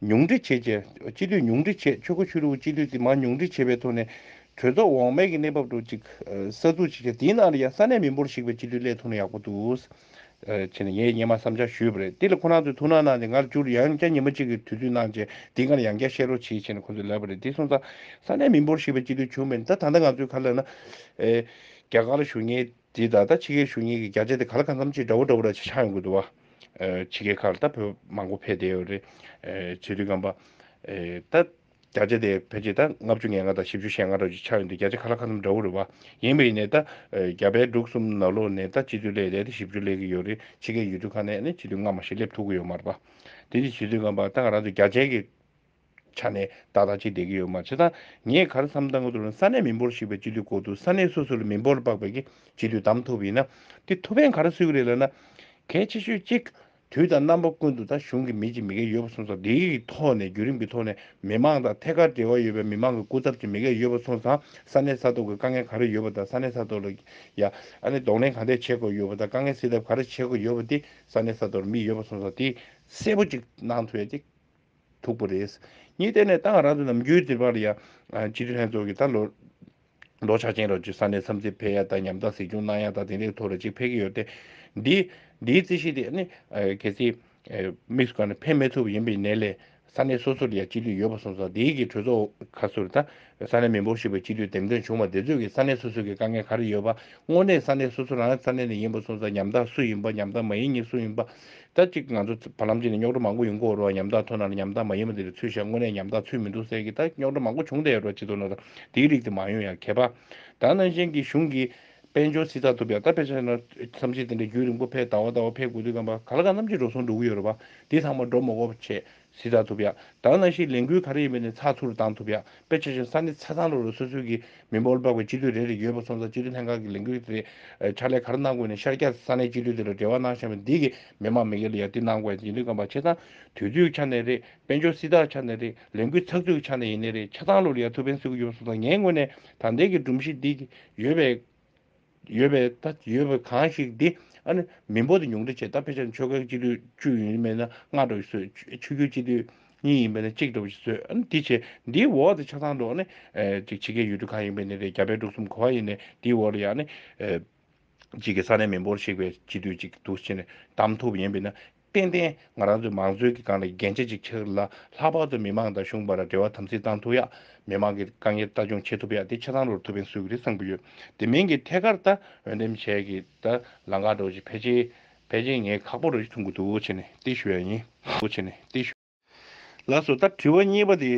ཉུང་འཕྲི་བྱེད། སྤྱི་འཐུས་ཉུང་འཕྲི་བྱེད། ཆོལ་ཁ་ཆོས་ལུགས་སྤྱི་འཐུས་དེ་མ་ཉུང་འཕྲི་བྱེད་པའི་ཐོག་ནས། གྲོས་ཚོགས་འོག་མའི་གི་གནས་བབ་ཀྲོག་ཅིག། གསར་འཛུགས་བྱེད་ཆ་དེའི་ནང་ལ་ཡང་ས་གནས་མི་འབོར་ཞིག་པའི་སྤྱི་འཐུས་སླེབས་ཐུབ་ན་ཡག་པོ་འདུག། ཕྱི་ནས་ངས་སྙན་མ་བསམ་འཆར་ཞུས་པ་རེད་དེ་ལ་ཁོ་རང་ཚོས་ཐུགས་སྣང་གནང་སྟེ་ངར་བསྐྱུར་ཡང་བསྐྱར་ཉིན་མ་གཅིག་གི་དུས་ཚོད་གནང་རྗེས་འདི་འགར་ཡང་བསྐྱར་བཤད་རོགས་བྱེད་ཅེས་ནས་ཁོ་ཚོས་ལབ་པ་རེད་དེ་སོང་ཙང། ས་གནས་མི་འབོར་ཞིག་པའི་སྤྱི་འཐུས་བྱུང་མེད་ད་ད་ལྟ་ང་ཚོའི་ཁ་ལ་ན། རྒྱ་གར་གཞུང་གཉེར། དེས་ད་ལྟ་ཕྱི་རྒྱལ་གཞུང་གཉིས་ཀྱི་བརྒྱ་ཆ་དེ་ག་ལ་གང་འཚམ་ཅིག་འདྲ་བོ་འདྲ་བོ་ར་ཆ་ཆག་ཡོང་གི་འདུག་བ། ཕྱི་རྒྱལ་ཁག་ལ་ད་བོད་མང་པོ་ཕེབས་བསྡད་ཡོད་རེད། བྱེས་དུས་སྐམ་པ། ད། བརྒྱ་ཆ་དེ་ཕལ་ཆེར་ད་ལྔ་བཅུ་ཉེར་ལྔ་དང་བཞི་བཅུ་ཞེ་ལྔ་འདྲ་བོ་ཅིག་ཆག་ཡོང་དུས་བརྒྱ་ཆ་ག་ལ་གང་འཚམ་འདྲ་བོ་རེད་བ། ཡིན་པ་ཡིན་ནས་ད། རྒྱ་བལ་འབྲུག་གསུམ་ནག་ལོག་ནས་ད་སྤྱི་འཐུས་ལས་རེ་ད་བཞི་བཅུ་སླེབས་ཀྱི་ཡོད་རེད་ཕྱི་རྒྱལ་ཡུལ་གྲུ་ཁག་ནས་ནི་སྤྱི་འཐུས་སྔ་མ་ཞིག་སླེབས་ཐུབ་ཀྱི་ཡོད་མ་རེད་བ། དེ་ནི་བྱེས་དུས་སྐམ་པ་ད་ང་རང་ཚོའི་བརྒྱ་ཆའི་གི། ཆ་ནས་ད་ལྟ་ཅི་བསྡད་ཀྱི་ཡོད་མ་ཆད་ད་ངས་གར་འཚམས་ལྟ་གོ་ས་གནས་མི་འབོར་ཞིག་པའི་སྤྱི་འཐུས་བསྐོ་འདུག་ས་གནས་སོ་སོ་ལ་མི་འབོར་ལྤགས་པའི་གི་སྤྱི་འཐུས་བདམས་ཐུབ་ཡིན་ན་དེ་ཐུ་བྷན་གར་སུས་ཀྱི་རེད་ལབ་ན་གལ་ཆེ་ཤོས་གཅིག་དུས་དང་རྣམ་པ་ཀུན་ཏུ་ད་གཞུང་གི་མི་གཅིག་མི་འགས་ཡོད་པ་སོང་ཙང་དེ་གི་ཐོག་ནས་བརྒྱུད་རིམ་གི་ཐོག་ནས་མི་མང་དང་ཐད་ཀར་འབྲེལ་བ་ཡོད་པའི་མི་མང་གི་སྐུ་ཚབ་ཅིག་མི་འགས་ཡོད་པ་སོང་ཙང་ས་གནས་ས་ཐོག་གི་དཀའ་ངལ་ག་རེ་ཡོད་པ་དང་ས་གནས་ས་ཐོག་ལ་ཡ་ཨ་ནི་གདོང་ལེན་ག་འདྲས་བྱེད་དགོས་ཡོད་པ་དང་དཀའ་ངལ་སེལ་ཐབས་ག་རེ་བྱེད་དགོས་ཡོད་པ་དེ་ས་གནས་ས་ཐོག་ལ་མི་ཡོད་པ་སོང་ཙང་དེ་གསལ་པོ་ཅིག་གནང་ཐུབ་ཡ་དེ། ཐུག་པོ་རེད། གཉིས་བལྟས་ནས་ཏང་རང་དང་ནམ་རྒྱུན་དེ་བར་ཡང་སྤྱི་འཐུས་ལྷན་ཚོགས་ཀྱིས་ད་ལོ་ལོ་ཆ་ཅན་རོགས་སྐྱོར་ས་གནས་འཚམས་གཟིགས་འཕེལ་ཡག་དང་ཉམ་ཐག་གཟིགས་སྐྱོང་གནང་ཡག་དང་དེང་རབས་ཐོག་རེ་གཅིག་འཕེལ་གྱི་ཡོད་དེ། འདི་འདིའི་རྩིས་གཞི་དེ་ནི་གལ་སྲིད་དམིགས་སུ་བཀར་ནས་འཕེལ་མི་ཐུབ་པ་ཡིན་པའི་ནད་ལས་ས་གནས་སོ་སོར་ཡང་སྤྱི་འཐུས་ཡོད་པ་སོང་ཙང་དེའི་གི་གྲོས་ཚོགས་ཁ་སོ་རེ་ད་ས་གནས་མི་འབོར་ཞིབ་པའི་སྤྱི་འཐུས་འདེམས་ཐོན་བྱུང་བ་དེ་ཚོད་ཀྱིས་ས་གནས་སོ་སོ་གི་དཀའ་ངལ་ག་རེ་ཡོད་པ་དངོས་གནས་ས་གནས་སོ་སོ་རང་ས་གནས་ནས་ཡིན་པ་སོང་ཙང་ཉམ་ཐག་སུ་ཡིན་པ་ཉམ་ཐག་མ་ཡིན་གཉིས་སུ་ཡིན་པ་ད་གཅིག་ང་ཚོ་བར་ལམ་གཅིག་ནས་རྙོག་དྲ་མང་པོ་ཡོང་གི་འོ་རོགས་ཉམ་ཐག་ཐོན་ན་ལ་ཉམ་ཐག་མ་ཡིན་པ་འདི་རེད་ཚུལ་བཞག་དངོས་གནས་ཉམ་ཐག་ཚུལ་མི་འདུག་ཟེར་གི་ད་རྙོག་དྲ་མང་པོ་བྱུང་བསྡད་ཡོད་རོགས་སྤྱི་ཚོགས་ནང་དུ་འདིའི་རིགས་དེ་མ་ཡོང་ཡང་གད་པ་དང་ནང་བཞིན་གི་གཞུང་གི་དཔལ་འབྱོར་སྲིད་ཚགས་ཐུབ་ཡག་ད་ཕེབས་ས་ན་བསམ་ཤེས་དེ་འདྲ་རྒྱུད་རིང་པོ་ཕེབས་ཟླ་བ་ཟླ་བ་ཕེབས་དགོས་དུས་སྐམ་པ་ག་ལ་གང་རྣམ་ཅི་འགྲོ་སོང་འགྲོ་གི་ཡོད་རོགས་པ་འདི་ཚང་མ་འགྲོ་མ་གོ་བ་ཆེ་གཟིགས་བཏང་ཐུབ་ཡ། དང་ན་ཤིས་ལས་འགུལ་ག་རེ་ཡིན་པ་ནི་ཚགས་ཚུད་རུ་བཏང་ཐུབ་ཡ། དཔེ་ཆ་ཆུང་ས་ནི་ཚ་ཚང་རུ་རུ་སོ་སོའི་གི་མི་འབོར་འབབ་གི་སྤྱི་འཐུས་རེ་རེ་ཡོད་པ་སོང་ཙང་སྤྱི་འཐུས་ལྷན་ཁང་གི་ལས་འགུལ་དེ་རེད། ཕྱག་ལས་ག་རེ་གནང་དགོས་ནི་ཤར་རྒྱ་ས་གནས་སྤྱི་འཐུས་དེ་ལ་འབྲེལ་བ་གནང་ཤག་མི་འདི་གི་མི་མང་མི་ཡར་ཡར་འདི་གནང་དགོས་ཡ་འདི་འདི་དགོན་པ་ཆེ་ཚང་དུས་ཚོད་ཆ་ནས་རེད་དཔལ་འབྱོར་སྲིད་ཐག་ཆ་ནས་རེད་ལས་འགུལ་ཚགས་ཚུད་གི་ཆ་ནས་ཡིན་ནི་རེད་ཆ་ཚང་རུ་རུ་ཡར་ཐུབ་ཕན་སེ་གི་ཡོད་པ་སོང་ཙང་ངའི་ངོས་ནས་ད་ལྟའི་གི་སྒྲོམ་གཞི་འདི་གི་ཡོད་པའི། ཡོད་པའི་ལྟ་ཡོད་པའི་གང་ཞིག་དེ་ཨ་ནི་མི་འབོར་དེ་ཉུང་འཕྲི་བྱས་ད་དཔེ་ཆ་ཆོལ་ཁའི་སྤྱི་འཐུས་བཅུ་ཡིན་མེད་ན་ལྔ་འགྲོ་བཞིན་བཟོས་ཆོས་ཆོས་རྒྱུད་སྤྱི་འཐུས་གཉིས་ཡིན་པས་ན་གཅིག་འགྲོ་བཞིན་བཟོས་ཨ་ནི་དེ་བྱས་འདིའི་འོག་དེ་ཆ་ཚང་འགྲོ་ཨ་ནི་ཅིག་བྱེད་མཁན་ཡོད་དུས་གང་ཡིན་པའི་ནི་རེད་རྒྱ་བལ་འབྲུག་གསུམ་གོ་བ་ཡིན་ནས་དེའི་འོག་ལ་ཡང་ཨ་ནི་ཅིག་གི་ས་གནས་མི་འབོར་གཤེགས་པའི་སྤྱི་འཐུས་ཅིག་འདུག་ཅེས་ནས་གདམ་ཐུབ་ཡིན་པས་ན་ཏན་ཏན་ང་རང་ཚོའི་མང་གཙོའི་གི་སྒང་ལ་རྒྱན་ཆ་ཅིག་ཆགས་ལ་ལྷག་པར་དུ་མི་མང་དང་གཞུང་བར་ལ་འབྲེལ་བ་དམ་ཚིག་བཏང་ཐུབ་ཡ། མི་མང་གི་དཀའ་ངལ་ལྟ་སྐྱོང་བྱེད་ཐུབ་ཡ་དེ་ཆ་ཚང་རོར་ཐུབ་བན་སུ་གི་རེད་བསམ་གི་ཡོད་དེ་མིང་གི་ཐད་ཀར་ད་འོས་འདེམས་བྱས་གི་ད་ལང་ཁ་འགྲོ་བྱེད་ཕལ་ཆེར་ཕལ་ཆེར་ངའི་ཁག་པོ་རོ་བྱེད་ཐུབ་གི་འདུག་བྱས་ནས་ཏེ་ཞུ་ཡ་ཡིན། བྱས་ནས་ཏེ་ཞུ། ལགས་སོ། ད་དྲི་བ་གཉིས་པ་དེ་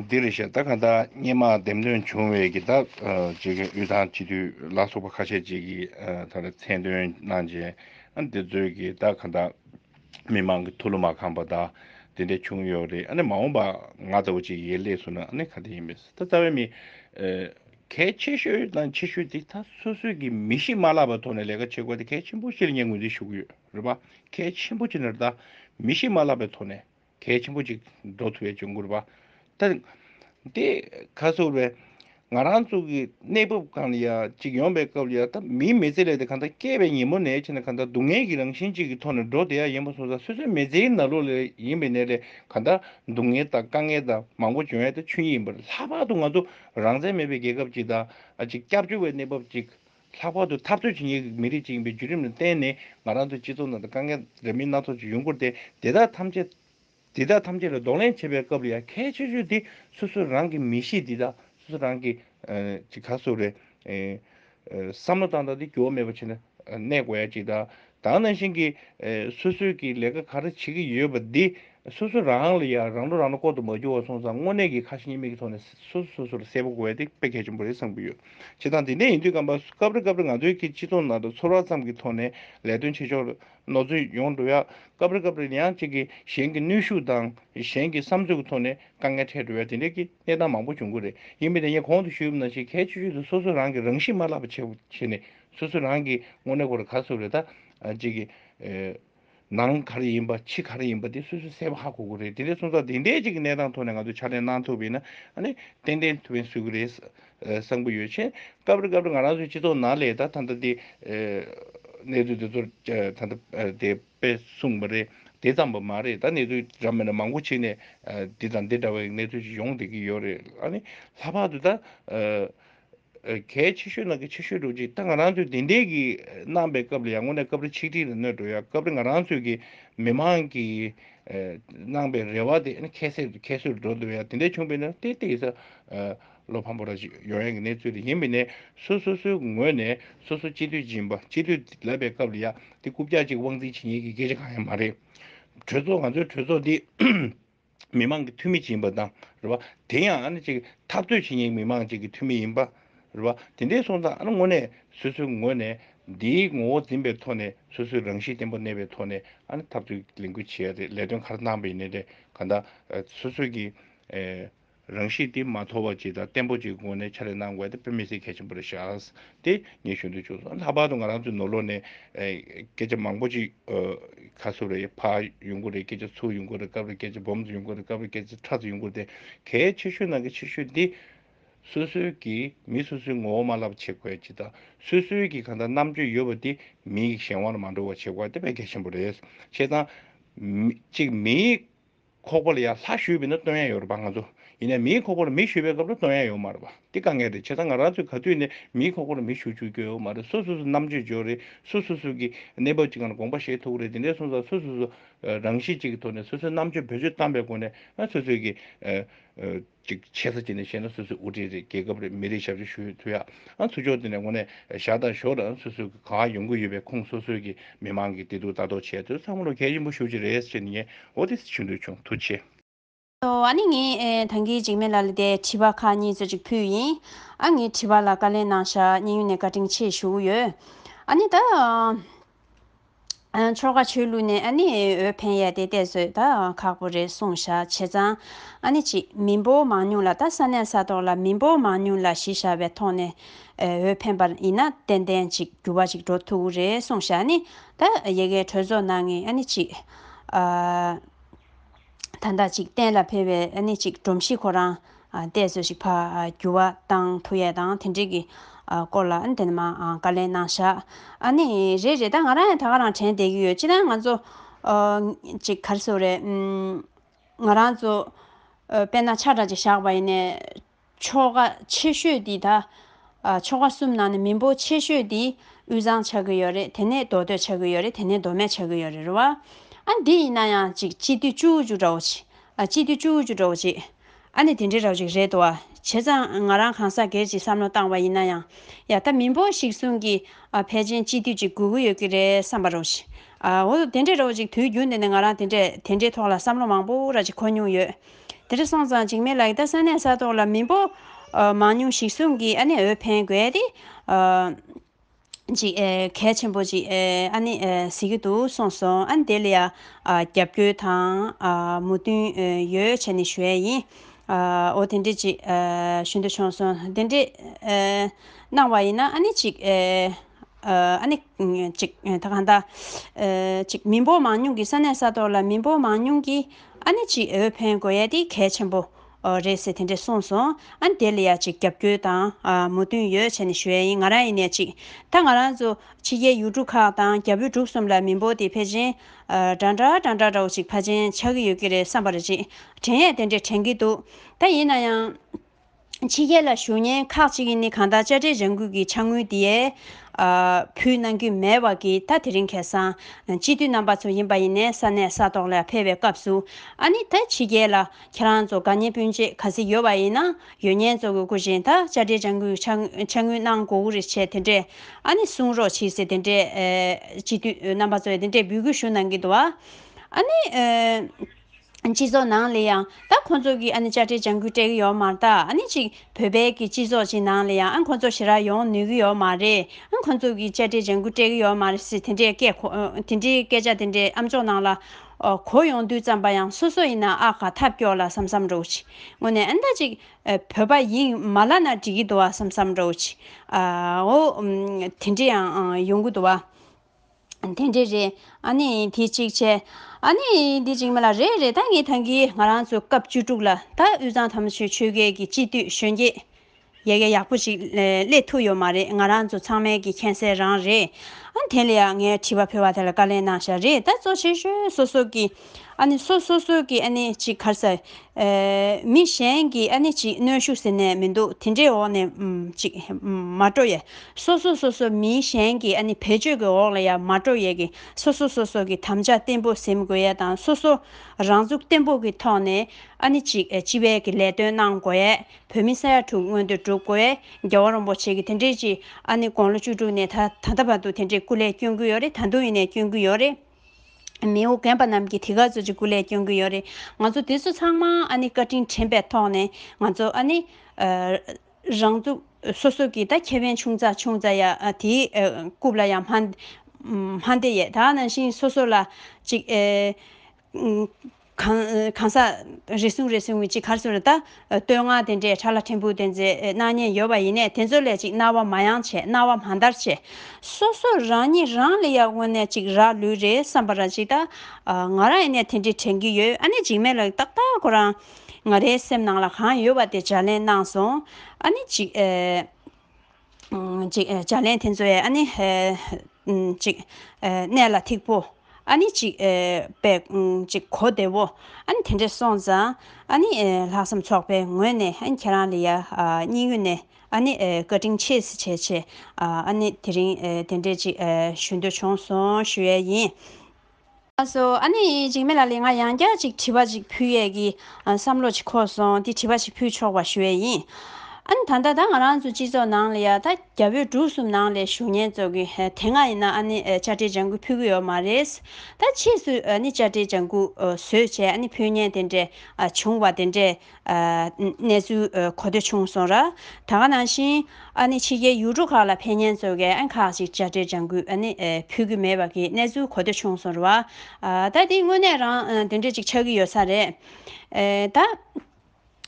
འདི་རེད་ཤག་ད་ག་ད་སྙན་མ་འདེམས་ཐོན་བྱུང་བའི་གི་ད་བྱེད་མཁན་དབུས་ཐང་སྤྱི་འཐུས་ལ་སོགས་པ་ཁ་ཤས་ཅིག་གི་ད་རེ་མཚན་འདོན་གནང་རྗེས་ཨ་འདི་ཚོའི་གི་ད་ག་ད་མི་མང་གི་ཐུགས་བློ་མ་ཁངས་པ་ད་དེ་འད་བྱུང་ཡོད་རེད་ཨ་ནི་མ་འོངས་པ་ང་ལྟ་བུ་ཅིག་ཡེ་ལེས་སུ་ན་ཨ་ནི་ག་དེ་ཡིན་པས་ད་རྩ་བའི་མི་གལ་ཆེ་ཤོས་དང་ཆེ་ཤོས་དེ་ད་སོ་སོས་གི་མི་གཤིས་མ་ལགས་པ་ཐོག་ནས་ལས་ཀ་བྱེད་དགོས་ད་གལ་ཆེན་པོ་ཤེས་ལ་ངས་ངོས་འཛིན་ཞུ་གི་ཡོད། རུས་པ་གལ་ཆེན་པོ་གཅིག་ནི་རི་དྭགས་མི་ཤི་མ་བརླག་པའི་ཐོག་ནས་གལ་ཆེན་པོ་གཅིག་འགྲོ་ཐུབ་པའི་འབྱུང་ཁུངས་རུས་པ་དང། དེ་ཁ་ཟུར་བས་ང་རང་ཚོ་གི་གནས་བབ་གང་ལ་ཡང་གཅིག་ཡོང་པའི་སྐབས་ལ་ཡང་ད་མིའི་མི་ཚེ་ལས་དེ་གང་ལྟར་སྐྱེས་པའི་ཉིན་མོ་ནས་ཕྱིན་ན་གང་ལྟར་སྡུག་བསྔལ་གྱི་རང་བཞིན་གཅིག་གི་ཐོག་ནས་འགྲོ་བསྡད་ཡ་ཡིན་པ་སོང་ཙང་སོ་སོའི་མི་ཚེའི་ནང་ལོགས་ལས་ཡིན་པའི་ནད་ལས་གང་ལྟར་སྡུག་བསྔལ་དང་དཀའ་ངལ་དང་མང་པོ་བྱུང་ཡ་དེ་ཆོས་ཉིད་ཡིན་པར་ལྷག་པར་དུ་ང་ཚོ་རང་བཙན་མེད་པའི་རྒྱལ་ཁབ་ཅིག་དང་ཅིག་སྐྱབས་བཅོལ་བའི་གནས་བབ་ཅིག་ལྷག་པར་དུ་ཐར་རྡོའི་ཇི་སྙེད་ཀྱི་མི་རིགས་ཅིག་ཡིན་པའི་བརྒྱུད་རིམ་ལ་བརྟེན་ནས་ང་རང་ཚོའི་སྤྱི་ཚོགས་ནང་དུ་དཀའ་ངལ་འདྲ་མིན་སྣ་ཚོགས་ཅིག་ཡོང་ཁུལ་ཏེ་དེ་དག་ཐམས་ཅད་དེ་དག་ཐམས་ཅད་ལ་གདོང་ལེན་བྱེད་པའི་སྐབས་ལ་ཡང་ཁྱད་ཆོས་ཆོས་འདི་སོ་སོ་རང་གི་མི་གཤིས་འདི་དག་སོ་སོ་རང་གི་ཅི་ག་སོགས་རེད། བསམ་བློ་བཏང་དང་དེ་འགྱུར་བ་མེད་པ་བྱས་ན་གནས་དགོས་ཡ་གཅིག་དང། དག་ནང་བཞིན་གྱི། སོ་སོས་ཀྱི་ལས་ཀ་ག་རེ་བྱེད་ཀྱི་ཡོད་པ་འདི། སོ་སོ་རང་ལ་ཡང་རང་འགྲོ་རང་ལ་བསྐོར་དུ་མ་འགྱུར་བ་སོང་ཙང་དངོས་གནས་ཀྱི་ཁ་ཞེ་གཉིས་མེད་ཀྱི་ཐོག་ནས་སོ་སོ་སོ་སོར་གསལ་པོ་དགོས་དེ་དཔེ་གལ་ཆེན་པོ་རེད་བསམ་གྱི་ཡོད། བྱེད་སྟངས་དེ་འདྲས་ཡིན་དུས་ཁམས་པ་སྐབས་རེ་སྐབས་རེ་ང་ཚོའི་གི་སྤྱི་ཚོགས་ནང་དུ་ཚོར་བ་ཙམ་གྱི་ཐོག་ནས་ལས་དོན་བྱེད་ཆོག་ནོར་འཛོལ་ཡོང་འགྲོ་ཡ། སྐབས་རེ་སྐབས་རེ་ཡང་གཅིག་གིས་གཞན་གྱི་ནུས་ཤུགས་དང་གཞན་གྱི་བསམ་ཚུལ་གྱི་ཐོག་ནས་དཀའ་ངལ་འཕྲད་འགྲོ་ཡ་དེ་འདྲས་ཀྱི་གནས་སྟངས་མང་པོ་བྱུང་གི་རེད་ཡིན་མི་དེ་ངས་གོང་དུ་ཞུས་པ་ནང་བཞིན་གལ་ཆེ་ཤོས་དེ་སོ་སོས་རང་གི་རང་གཤིས་མ་བརླག་པ་བྱེད་ནས། སོ་སོ་རང་གིས་དངོས་གནས་གོར་ག་སོགས་རེད་ད། གཅིག་གིས། ནང་ག་རེ་ཡིན་པ་ཕྱི་ག་རེ་ཡིན་པ་དེ་སོ་སོས་གསལ་བོ་ཧ་གོ་དགོས་རེད་དེ་རེད་སོང་ཙང་དེ་འདྲའི་གཅིག་གི་གནས་སྟངས་ཐོག་ནས་ང་ཚོས་ཕྱག་ལེན་གནང་ཐུབ་པས་ན་ཨ་ནི་ཏན་ཏན་ཐུབ་བས་སུས་གི་རེད། བསམ་གི་ཡོད་ཕྱིན། སྐབས་རེ་སྐབས་རེ་ང་རང་ཚོའི་སྤྱི་ཚོགས་ནང་ལས་ད་ད་ལྟ་དེ། གནས་ཚུལ་དེ་ཚོར་ད་ལྟ་དེ་དཔེ་གསུངས་པ་རེད་དེ་ཙམ་པོ་མ་རེད་ད་གནས་ཚུལ་རབ་མེད་ན་མང་པོ་ཕྱི་ནས་འདི་དང་འདི་འདྲ་བའི་གནས་ཚུལ་ཞིག་ཡོང་བསྡད་ཀྱི་ཡོད་རེད་ཨ་ནི་ལྷག་པར་དུ་ད། གལ་ཆེ་ཤོས་ནང་གི་ཆེ་ཤོས་འགྲོ་ཅིག་ད་ང་རང་ཚོས་དེ་འད་གི་གནང་པའི་སྐབས་ལ་ཡང་ངོ་ནས་སྐབས་རེ་ཆིག་སྒྲིལ་ལ་གནོད་འགྲོ་ཡ་སྐབས་རེ་ང་རང་ཚོས་གི་མི་མང་གི་གནང་པའི་རེ་བ་དེ་ཁྱད་སེད་ཁྱད་སོད་འགྲོ་འདོད་ཡ་དེ་འད་བྱུང་པས་ན་ཏན་ཏན་ཡིན་ས་བློ་ཕམ་པོ་ར་ཅིག་ཡོང་ཡ་གི་གནས་ཚུལ་རེད་ཡིན་པས་ན་སོ་སོ་སོའི་ངོས་ནས་སོ་སོ་སྤྱི་འཐུས་སྦྱིན་པ་སྤྱི་འཐུས་ལབ་པའི་སྐབས་ལ་ཡ་དེ་རྐུབ་བཀྱག་ཅིག་དབང་འཛིན་བྱེད་ཉེས་ཀི་སྐད་ཆ་གང་ཡང་མ་རེད་གྲོས་ཚོགས་ང་ཚོའི་གྲོས་ཚོགས་འདི་མི་མང་གི་འཐུས་མི་ཅིག་ཡིན་པ་དང། དེ་ཡང་ཨ་ནི་ཅིག་འཐབ་རྩོད་བྱེད་མྱིན་མི་མང་ཅིག་གི་འཐུས་མི་ཡིན་པ། དེ་འདྲའི་སོང་ཙང་ཨ་ནི་དངོས་གནས་སོ་སོའི་ངོས་ནས་འདིའི་ངོ་བོ་འཛིན་པའི་ཐོག་ནས་སོ་སོའི་རང་གཤིས་བརྟན་པོ་གནས་པའི་ཐོག་ནས་ཨ་ནི་འཐབ་རྩོད་ཀྱི་ལས་འགུལ་བྱེད་ཡ་རེད་ལས་དོན་ག་རེ་གནང་པ་ཡིན་ནའི་རེད་ག་ད་སོ་སོས་ཀྱི། རང་གཤིས་དེ་མ་དོར་བ་ཅིག་དང་བརྟན་པོ་ཅིག་གི་སྒོ་ནས་ཕྱག་ལས་གནང་དགོས་དེ་དཔེ་མི་སྲིད་གལ་ཆེན་པོ་རེད་ཤག། དེ་ངས་ཞུ་འདོད་བྱུང་སོང་ལྷག་པར་དུ་ང་རང་ཚོའི་ནོར་ལོག་ནས་སྐད་ཆ་མང་པོ་ཅིག་ཁ་སུབ་རེད་ཕ་ཡོང་གི་རེད་སྐད་ཆ་ཚུར་ཡོང་གི་རེད་སྐབས་རེ་སྐད་ཆ་སྦོམ་དུ་ཡོང་གི་རེད་སྐབས་རེ་སྐད་ཆ་ཁྲག་ཙིག་ཡོང་གི་རེད་དེ་གལ་ཆེ་ཤོས་ནང་གི་ཆེ་ཤོས་འདི། སོ་སོའི་གིས་མི་སོ་སོའི་ངོ་བོ་མ་ལབ་བྱེད་དགོས་ཅིག་དང་སོ་སོའི་གིས་གང་ལྟར་རྣམ་དཔྱོད་ཡོད་པ་དེ་མིའི་གཞན་དབང་ལ་མ་འགྲོ་བ་བྱེད་དགོས་དེ་དཔེ་གལ་ཆེན་པོ་རེད། ཞེས་དང། གཅིག་མིའི། ཁོག་པོ་ལ་ཡང་ལྷ་ཞུས་པས་ན་སྟོན་ཡ་ཡོད་རེད་པ་ང་ཚོ། ཡིན་ནའི་མིའི་ཁོག་པོ་ལ་མི་ཞུས་པའི་སྐབས་ལ་སྟོན་ཡ་ཡོད་མ་རེད་པ། འདི་དཀའ་ངལ་རེད་བྱས་ཙང་ང་རང་ཚོས་ག་དུས་ནས་མིའི་ཁོག་པོ་ལ་མི་ཞུ་བཅུག་རྒྱུ་ཡོད་མ་རེད་སུ་སུ་སུ་རྣམ་དཔྱོད་འཇོག་རེད་སུ་སུ་སུ་གིས་གནས་བབ་ཅིག་ངང་ལ་དགོངས་པ་བཞེས་ཐུབ་རེད་དེ་འདྲའི་གསུངས་ཙང་སུ་སུ་སུ་རང་གཤིས་གཅིག་གི་ཐོག་ནས་སོ་སོའི་རྣམ་དཔྱོད་བེད་སྤྱོད་བཏང་པའི་སྒོ་ནས་སོ་སོས་ཀྱི། གཅིག་ཆེ་ས་གཅིག་ནས་བཤད་ན་སོ་སོའི་དབུ་ཁྲིད་རེད་རྒྱལ་ཁབ་རེད་མི་རེད་ཞབས་ཞུ་ཞུ་ཡོད་ཐུག་ཡ་ཨང་ཐུག་ཆོག་དེ་ནས་ངོ་ནས་བཞག་དང་ཞོག་རང་སོ་སོའི་གི་གང་ཡོང་གི་ཡོད་པའི་ཁུངས་སོ་སོའི་གི་མི་མང་གི་བདེ་སྡུག་ལྟ་རྟོག་བྱས་ཚོད་བསམ་བློ་གལ་ཆེན་པོ་ཞུ་ཆེ་རེད་ཅེས་ནི་ཨོ་ཏི་སི་ཆུང་དུས་ཆུང་དུ་ཆེ། ཨ་ནི་ངས་ཐང་གིས་འཇིགས་མེད་ལ་ལ་དེ་དྲི་བ་ཁག་གཉིས་ཚོད་ཅིག་ཕུལ་ཡིན་ཨ་ངའི་དྲི་བ་ལ་བཀའ་ལན་གནང་ཞག་གཉིས་ཡུན་ནས་བཀའ་དྲིན་ཆེ་ཞུ་གི་ཡོད་ཨ་ནི་ད། ཆོལ་ཁ་ཆོས་ལུགས་ནས་ཨ་ནི་འོས་འཕེན་ཡས་དེ་གཏད་སོད་ད་ཁག་པོ་རེད་གསུངས་བཞག་བྱས་ཙང་ཨ་ནི་གཅིག་མི་འབོ་མང་ཉུང་ལ་ད་ས་གནས་ས་ཐོག་ལ་མི་འབོ་མང་ཉུང་ལ་གཞི་བཞག་པའི་ཐོག་ནས་འོས་འཕེན་པ་ཡིན་ན་ཏན་ཏན་གཅིག་འགྱུར་བ་ཅིག་འགྲོ་ཐུ་བོ་རེད་གསུངས་བཞག་ནི་ད་ཡེ་གེ་གྲོས་ཚོགས་ནང་ངི་ཨ་ནི་གཅིག། ཐ་ན་ཅིག་གཏན་ལ་འཕེལ་བའི་གནས་གཅིག་སྒྲོམ་གཞི་ཁོ་རང་བལྟས་ཚོད་ཅིག་ཕར་བསྒྱུར་བ་དང་ཐུག་ཡས་དང་དེ་འབྲེལ་གྱི་སྐོར་ལ་དེ་ནས་མ་བཀའ་ལན་གནང་བཞག་ཨནི་རེད་རེད་ད་ང་རང་ཡང་ད་ག་རང་དྲན་བསྡད་ཀྱི་ཡོད་ཅི་ན་ང་ཚོ་ཅིག་གར་སོ་རེད་ང་རང་ཚོ་དཔེར་ན་ཆ་འདྲ་ཅིག་བཞག་པ་ཡིན་ནས། ཆོ་ག་ཆེ་ཤོས་དེ་ད། ཆོ་ག་གསུམ་ནང་ནས་མི་འབོ་ཆེ་ཤོས་དེ་དབུས་གཙང་ཆགས་ཀྱི་ཡོད་རེད་དེ་ནས་མདོ་སྟོད་ཆགས་ཀྱི་ཡོད་རེད་དེ་ནས་མདོ་སྨད་ཆགས་ཀྱི་ཡོད་རེད་རེད་བ། ཨ་འདི་ཡིན་ན་ཡང་ཅིག་སྤྱི་འཐུས་བཅུ་བཅུ་འདྲ་བོ་ཅིག་ཨ་སྤྱི་འཐུས་བཅུ་བཅུ་འདྲ་བོ་ཅིག་ཨ་ནི་དེ་འདྲའི་ར་བ་ཅིག་རེད་དོ་ཨ་བྱས་ཙང་ང་རང་གང་ཟག་སྒེར་གྱི་བསམ་བློ་བཏང་བ་ཡིན་ན་ཡང་ཡ་ད་མི་འབོ་ཞིག་གསུང་གི་ཨ་ཕལ་ཆེན་སྤྱི་འཐུས་ཅིག་དགོས་ཀྱི་ཡོད་ཀྱི་རེད་བསམ་པ་ར་བ་ཅིག་ཨ་འོ་དེ་འདྲའི་ར་བ་ཅིག་དུས་རྒྱུན་དེ་ནས་ང་རང་དེ་འདྲའི་དེ་འདྲའི་ཐོག་ལ་བསམ་བློ་མང་པོ་ར་ཅིག་གོ་མྱོང་ཡོད། དེར་སོང་ཙང་འཇིགས་མེད་ལགས་ད་ས་གནས་ས་ཐོག་ལ་མི་འབོ་མང་ཉུང་ཞིག་གསུམ་གིས་ཨ་ནི་འོས་འཕེན་དགོས་ཏེ། ཅིག་གལ་ཆེན་པོ་ཅིག་ཨ་ནི་ཟེར་གྱི་འདུག་གསུངས་སོང་ཨ་ནི་དེ་ལ་ཡང་རྒྱབ་སྐྱོད་དང་མོས་མཐུན་ཡོད་བྱས་ནས་ཞུས་ཡིན། འོ་དེ་འདྲས་ཅིག་ཞུ་འདོད་བྱུང་སོང་དེ་འདྲས་གནང་བ་ཡིན་ན་ཨ་ནི་ཅིག། གཅིག། མི་འབོར་མང་ཉུང་གི་ས་གནས་ས་ཐོག་ལ་མི་འབོར་མང་ཉུང་གི་ཨ་ནེ་གཅིག་འོས་འཕེན་དགོས་ཡ་དེ་གལ་ཆེན་པོ་རེད་ཟེར་དེ་འདྲས་གསུངས་སོང་ཨ་དེ་ལ་ཡ་གཅིག་རྒྱབ་སྐྱོལ་དང་མོས་མཐུན་ཡོད་བྱས་ནས་ཞུ་ཡ་ཡིན་ང་རང་ཡིན་ནས་གཅིག་ད་ང་རང་ཚོ་ཕྱི་རྒྱལ་ཡུལ་གྲུ་ཁག་དང་རྒྱ་བོད་འབྲུག་གསུམ་ལ་མི་འབོར་དེ་ཕལ་ཆེན་འདྲ་འདྲ་འདྲ་འདྲ་འདྲ་བོ་གཅིག་ཕ་ཆེན་ཆགས་ཀྱི་ཡོད་ཀྱི་རེད་བསམ་པར་གཅིག་དྲན་ཡས་དེ་འདྲས་དྲན་གྱི་འདུག་ད་ཡིན་ན་ཡང། ཕྱི་རྒྱལ་ལ་ཞུ་སྙན་ཁག་ཅིག་ཡིན་ནི་གང་དག་བཅའ་ཁྲིམས་རང་འགུལ་གྱིས་ཕྱག་དངུལ་དེའི་ཕུལ་གནང་རྒྱུ་མེད་བར་གྱི་ད་དེ་རིང་ཁེ་སང་སྤྱི་འཐུས་རྣམ་པ་ཚོ་ཡིན་པ་ཡིན་ནས་ས་གནས་ས་ཐོག་ལ་ཕེབས་པའི་སྐབས་སུ་ཨ་ནི་ད་ཕྱི་རྒྱལ་ལ་ཁྱེད་རང་ཚོ་དགའ་ཉེ་སྤུན་མཆེད་ག་ཟིག་ཡོད་བ་ཡིན་ན་ཡོད་ཉེན་གཙོ་གི་སྐུ་བཞེངས་ད་བཅའ་ཁྲིམས་རང་འགུལ་གྱིས་ཕྱག་དངུལ་གནང་དགོ་གུ་རེ་བྱས་དེ་འདྲས་ཨ་ནི་གསུང་རོགས་བྱིས་ཟེར་དེ་འདྲས་སྤྱི་འཐུས་རྣམ་པ་ཚོས་དེ་འདྲས་འབུལ་དགོས་ཞུ་གནང་གི་འདུག་ཨ་ནི། སྤྱི་ཚོགས་ནང་ལས་ཡང་ད་ཁོང་ཚོ་གིས་ཨ་ནི་དཔྱ་ཁྲལ་འཇང་དགོས་སྤྲད་གི་ཡོག་མ་ད་ཨ་ནི་ཅིག་བོད་པའི་གི་སྤྱི་ཚོགས་ཅིག་ནང་ལས་ཡང་ཨ་ཁོང་ཚོ་ཞི་རག་ཡོང་ནུས་གི་ཡོག་མ་རེད་ཨ་ཁོང་ཚོ་གིས་དཔྱ་ཁྲལ་འཇང་དགོས་སྤྲད་གི་ཡོག་མ་རེད་སེ་དེ་འདྲའི་སྐད་ཁོ་དེ་འདྲའི་སྐད་ཆ་དེ་འདྲའི་ཨ་མཆོག་ནང་ལ་གོ་ཡོང་དུས་ཙམ་པ་ཡང་སོ་སོ་ཡིན་ན་ཨ་ག་ཐབས་སྐྱོ་ལ་བསམ་བསམ་རོགས་གྱིས་ངོ་ནས་ཨ་ནི་ཅིག་བོད་པ་ཡིན་མ་ལ་ན་འགྲིག་གི་འདུག་ཨ་བསམ་བསམ་རོགས་གྱིས་ཨོ་དེ་འདྲའི་ཡང་ཡོང་གི་འདུག་ཨ། དེ་འདྲའི་རེད། ཨ་ནི་དེ་གཅིག་བྱས། ཨ་ནི་དེ་གཅིག་མ་ལ་རེད་རེད་ད་ངས་ཐང་གིས་ང་རང་ཚོ་སྐབས་བཅུ་དྲུག་ལ་ད་དབུས་གཙང་དམ་ཆོས་ཆོལ་ཁའི་གི་སྤྱི་འཐུས་གཞོན་སྐྱེས་ཡ་གྱལ་ཡག་པོ་ཞིག་སླེབས་ཐུབ་ཡོད་མ་རེད་ང་རང་ཚོ་ཚང་མའི་གི་མཁྱེན་གསལ་རང་རེད། ཨ་དེ་ལ་ཡང་ངས་དྲི་བ་ཕུལ་བ་དེ་ལ་བཀའ་ལན་གནང་བཞག་རེད་ད་གཙོ་ཆེ་ཤོས་སོ་སོ་གི། སོ་སོ་སོ་གི་ཅིག་གར་ཟེར། མི་གཞན་གི་ཅིག་གནོན་ཤུགས་ཟེར་ནས་མི་འདུག་དེ་འདྲའི་འོག་ནས་ཅིག་མ་སྤྲོ་ཡས། སོ་སོ་སོ་སོ་མི་གཞན་གི་བེད་སྤྱོད་ཀྱི་འོག་ལ་ཡང་མ་སྤྲོ་ཡས་ཀྱི་སོ་སོ་སོ་སོ་གི་དམ་བཅའ་བརྟན་པོ་ཟིན་དགོས་ཡས་དང་སོ་སོ་རང་ཚུགས་བརྟན་པོ་གི་ཐོག་ནས་ཅིག་སྤྱི་བའི་གི་ལས་དོན་གནང་དགོས་ཡས་བོད་མི་ས་ཡ་དྲུག་སྔོན་དུ་འགྲུབ་དགོས་ཡས་རྒྱལ་བ་རོང་པོ་ཆེ་གི་དེ་འདྲའི་ཅིག་དགོང་ལོ་བཅུ་དྲུག་ནས་ད་ད་ལྟ་བར་དུ་དེ་འདྲའི་སྐུ་ལས་བསྐྱོན་གྱི་ཡོད་རེད་ད་དུང་ཡིན་ནས་བསྐྱོན་གྱི་ཡོད་རེད། མིའོ་རྒན་པ་རྣམས་ཀྱིས་དེ་ག་ཚོད་ཀྱི་གུ་ལས་སྐྱོན་གྱི་ཡོད་རེད་ང་ཚོ་དེ་ཚོ་ཚང་མ་ཨ་ནི་བཀའ་དྲིན་དྲན་པའི་ཐོག་ནས་ང་ཚོ་ཨ་ནི། རང་ཚུགས་སོ་སོ་གྱིས་ད་ཁྱད་པན་ཆུང་ཙག་ཆུང་ཙག་ཡ་དེའི་རྐུབ་ལ་ཡང་མ་འདེད་ཡས་ད་ནང་བཞིན་སོ་སོ་ལ་ཅིག། གང་ཟག། རེ་ཟུང་རེ་ཟུང་གི་གཅིག་གར་སོན་ལ་བལྟ། བསྟོད་བསྔགས་དེ་འདྲས་ཕྲ་ལ་ཕྲན་བུ་དེ་ཚོའི་སྣང་བརྙན་ཡོད་པ་ཡིན་ནས་དེ་ཚོ་ལས་གཅིག་རྣ་བ་མ་ཡང་ཆེ་རྣ་བ་མ་འདར་ཆེ། སོ་སོ་རང་ཉིད་རང་ལ་ཡར་སྔོན་ནས་གཅིག་རག་ལུས་རེད་བསམ་པ་རང་གཅིག་བལྟ། ང་རང་ཡིན་ནས་དེ་འདྲས་དྲན་གྱི་ཡོད་ཨ་ནེ་འཇིགས་མེད་ལགས་ཏག་ཏག་ཁོ་རང། ང་རའི་སེམས་ནང་ལ་གང་ཡོད་པ་དེ་བྱ་ལེན་གནང་སོང་ཨ་ནེ་འཇིགས། ཅིག། བྱ་ལན་དེ་ཚོ་ཡང་ནི། ཅིག། གནས་ལ་ཐིག་པོ། ནི། ཅིག། པའི། ཅིག། གོ་བདེ་བོ། དེ་འདྲས་སོང་ཙང། ནི། ལྷག་བསམ་ཚོགས་པའི་ངོས་ནས་ཁྱེད་རང་ལ་ཡང། སྙིང་དབུས་ནས། ནི། བཀའ་དྲིན་ཆེ་སི་ཆེ་ཆེ། ནི། དེ་རིང། དེ་འདྲས་ཅིག། ཞུ་འདོད་བྱུང་སོང་ཞུ་ཡས་ཡིན། ཨ་སོ། ཨ་ནི་འཇིགས་མེད་ལ་ལས་ང་ཡང་བསྐྱར་ཅིག་དྲི་བ་ཅིག་ཕུལ་ཡས་ཀྱི། བསམ་བློ་ཅིག་འཁོར་སོང་དེ་དྲི་བ་ཞིག་ཕུལ་ཆོག་པ་ཞུ་ཡས་ཡིན། ཨ་ནི་ད་ལྟ་ད་ང་རང་ཚོ་སྤྱི་ཚོགས་ནང་ལ་ཡ་ད་རྒྱ་བོད་འབྲུག་གསུམ་ནང་ལས་ཞུ་སྙན་རྩོད་གི་དེ་སྔ་ཡིན་ན་ཨ་ནི་བཅའ་ཁྲིའི་ལྗང་སྐུ་ཕུལ་གི་ཡོད་མ་རེད། ད་ཕྱིས་སུ་ཨ་ནི་བཅའ་ཁྲིའི་ལྗང་སྐུ་བཟོས་བྱས་ཨ་ནི་ཕུལ་སྙན་དེ་འདྲས་བྱུང་བ་དེ་འདྲས་གནས་ཚུལ་གོ་ཐོས་བྱུང་སོང། ར་ཐང་ག་ནང་བཞིན་ཕྱི་རྒྱལ་ཡུལ་གྲུ་ཁག་ལ་ཕན་ཉན་བཟོ་མཁན་ཁག་ཅིག་དཔྱ་ཁྲལ་ལྗང་གུ་ཕུལ་གྱི་མེད་པ་གི་གནས་ཚུལ་གོ་ཐོས་བྱུང་སོང། ར་ཐང་འདི་དངོས་གནས་རང་དེ་འདྲས་ཅིག་ཆགས་ཀྱི་ཡོད་ས་རེད། ད་དེ་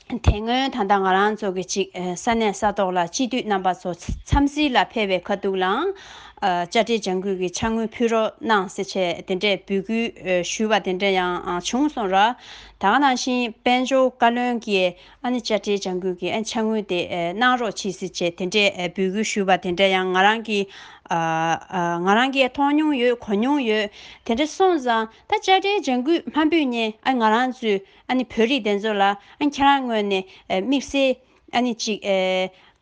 སྔོན་ད་ལྟ་ང་རང་ཚོ་གི་ཅིག་ས་གནས་ས་ཐོག་ལ་སྤྱི་འཐུས་རྣམ་པ་ཚོ་འཚམས་གཟིགས་ལ་ཕེབས་པའི་ཁ་ཐུག་ལའང་དཔྱ་ཁྲལ་ལྗང་གུ་གི་ཆ་དངུལ་ཕུལ་རོགས་གནང་ཟེར་ཆེད་དེ་འདྲས་འབོད་སྐུལ་ཞུས་པ་དེ་འདྲས་ཡང་བྱུང་སོང། ར་དང་ནང་བཞིན་དཔལ་འབྱོར་བཀའ་བློན་གྱིས་ཨ་ནེ་བཅའ་ཁྲལ་བྱ་འགུལ་གྱི་འཆར་དངུལ་དེ་གནང་རོགས་བྱེད་སྲིད་ཅེས་དེ་འདྲའི་འབོད་སྐུལ་ཞུས་པ་དེ་འདྲ་ཡང་ང་རང་གིས་ང་རང་གིས་མཐོང་མྱོང་ཡོད་གོ་མྱོང་ཡོད། དེ་འདྲ་སོང་ཙང་ད་བཅའ་ཁྲལ་བྱ་འགུལ་མ་འབུད་ཉེན་ང་རང་ཚོའི་ཨ་ནེ་བོད་རིགས་དེ་ཚོ་ལ་ཁྱེད་རང་ངོས་ནས་དམིགས་བསལ་ཨ་ནི་གཅིག།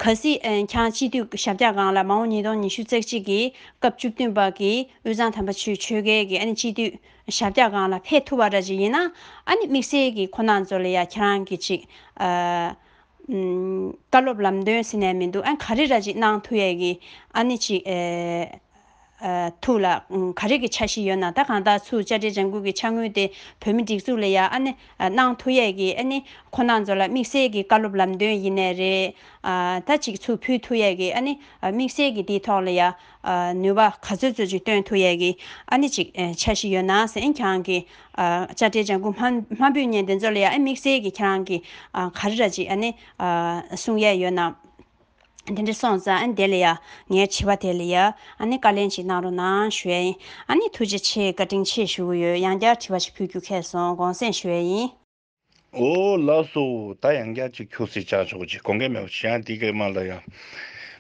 གལ་སྲིད་ཁྱང་སྤྱི་འཐུས་ཞབས་བཀྱག་སྒང་ལ་མ་འོངས་ཉིས་སྟོང་ཉི་ཤུ་རྩེག་གཅིག་གི་སྐབས་བཅུ་བདུན་པ་གི་དབུས་གཙང་དམ་པ་ཆུའི་ཆོལ་ཁའི་གི་ཨ་ནི་སྤྱི་འཐུས་ཞབས་བཀྱག་སྒང་ལ་ཕེབས་ཐུབ་པ་འདྲ་ཅིག་ཡིན་ན་ཨ་ནི་དམིགས་བསལ་གི་ཁོ་ནག་ཚོ་ལ་ཡང་ཁྱེད་རང་གི་གཅིག། བཀའ་སློབ་ལམ་སྟོན་ཟེར་ནས་མི་འདུག་ཨ་ག་རེ་ར་ཅིག་གནང་ཐུབ་ཡས་གི་ཨ་ནི་གཅིག། ཐུགས་ལ་ག་རེ་གི་ཆ་ཞིག་ཡོད་ན་ད་གང་དག་ཚུར་བཅར་འདྲའི་ལྗང་གུ་གི་ཆ་དངུལ་དེ་བོད་མི་སྒྲིག་འཛུགས་ལ་ཡ་ཨ་ནི་གནང་ཐུགས་ཡས་ཀྱི་ཨ་ནི་ཁོ་ནག་ཚོ་ལ་དམིགས་བསལ་གི་བཀའ་སློབ་ལམ་སྟོན་ཡིན་ནས་རེད་ད་ཅིག་ཚུར་ཕུལ་ཐུགས་ཡས་ཀྱི་ཨ་ནི་དམིགས་བསལ་གི་དེའི་ཐོག་ལ་ཡ་ནུས་པ་ག་ཚོད་ཚོད་ཅིག་སྟོན་ཐུགས་ཡས་ཀྱི་ཨ་ནི་ཅིག་ཆ་ཞིག་ཡོད་ན་གཟན་གྱང་གི་བཅར་འདྲའི་ལྗང་གུ་མ་འབུད་ཉེན་དེ་ཚོ་ལ་ཡ་ཨ་ནི་དམིགས་བསལ་གི་ཁྱེད་རང་གི་ག་རེ་ར་ཅིག་ཨ་ནི་གསུང་ཡས་ཡོད་ན། དེ་འདྲ་སོང་ཙང་ཨ་ནི་དེ་ལ་ཡ། ངའི་བྱིས་པ་དེ་ལ་ཡ། ཨ་ནི་བཀའ་ལན་ཅིག་གནང་རོགས་གནང་ཞུ་ཡ། ཨ་ནི་ཐུགས་རྗེ་ཆེ་བཀའ་དྲིན་ཆེ་ཞུ་གི་ཡོད་ཡང་བསྐྱར་དྲི་བ་ཞིག་ཕུལ་རྒྱུ་ཁེལ་སོང་དགོངས་སེམས་ཞུ་ཡ་ཡིན། འོ་ལགས་སོ། ད་ཡང་བསྐྱར་ཅིག་ཁྱོད་སྲིད་བྱ་ཆོག་ཅིག་དགོངས་ཀས་མེད་པ་ཞིག་ཡང་དེ་སྐད་སྨྲ་ལ་ཡ།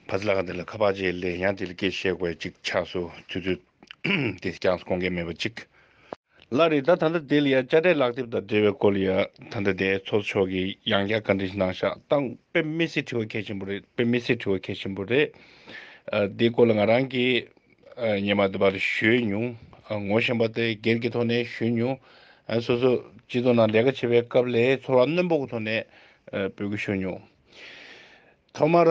ཕ་ཚི་ལ་ག་དེ་ལ་ཁ་བ་ཅིག་གླེ་ཡང་དེ་ལ་སྐད་བཤད་དགོས་ཅིག་ཆགས་སོ་ཚུལ་དུ། དེ་སྐྱངས་སོ་དགོངས་ཀས་མེད་པ་ཅིག། ལ་རེ་ད་ད་ལྟ་དེ་ལ་ཡང་དཔྱ་ཁྲལ་ལག་དེབ་དང་འབྲེལ་བའི་སྐོར་ལ་ཡང་ད་ལྟ་དེའི་ཚོགས་ཕྱོགས་ཀྱི་ཡང་བསྐྱར་བཀའ་འདྲི་ཞིག་གནང་ཤག་ཏང་དཔེ་མི་སྲིད་དྲི་བ་གལ་ཆེན་པོ་རེད་དཔེ་མི་སྲིད་དྲི་བ་གལ་ཆེན་པོ་རེད། དེའི་སྐོར་ལ་ང་རང་གིས་ཉེ་མ་དེ་བར་ཞུས་མྱོང། ངོ་ཤེས་པ་དེ་སྒེར་གྱི་ཐོག་ནས་ཞུས་མྱོང། སོ་སོ་སྤྱི་ཚོགས་ནང་ལས་ཀ་བྱེད་པའི་སྐབས་ལས་ཚོར་བ་རྣོན་པོ་གི་ཐོག་ནས་འབོད་སྐུལ་ཞུས་མྱོང། ཐོག་མར།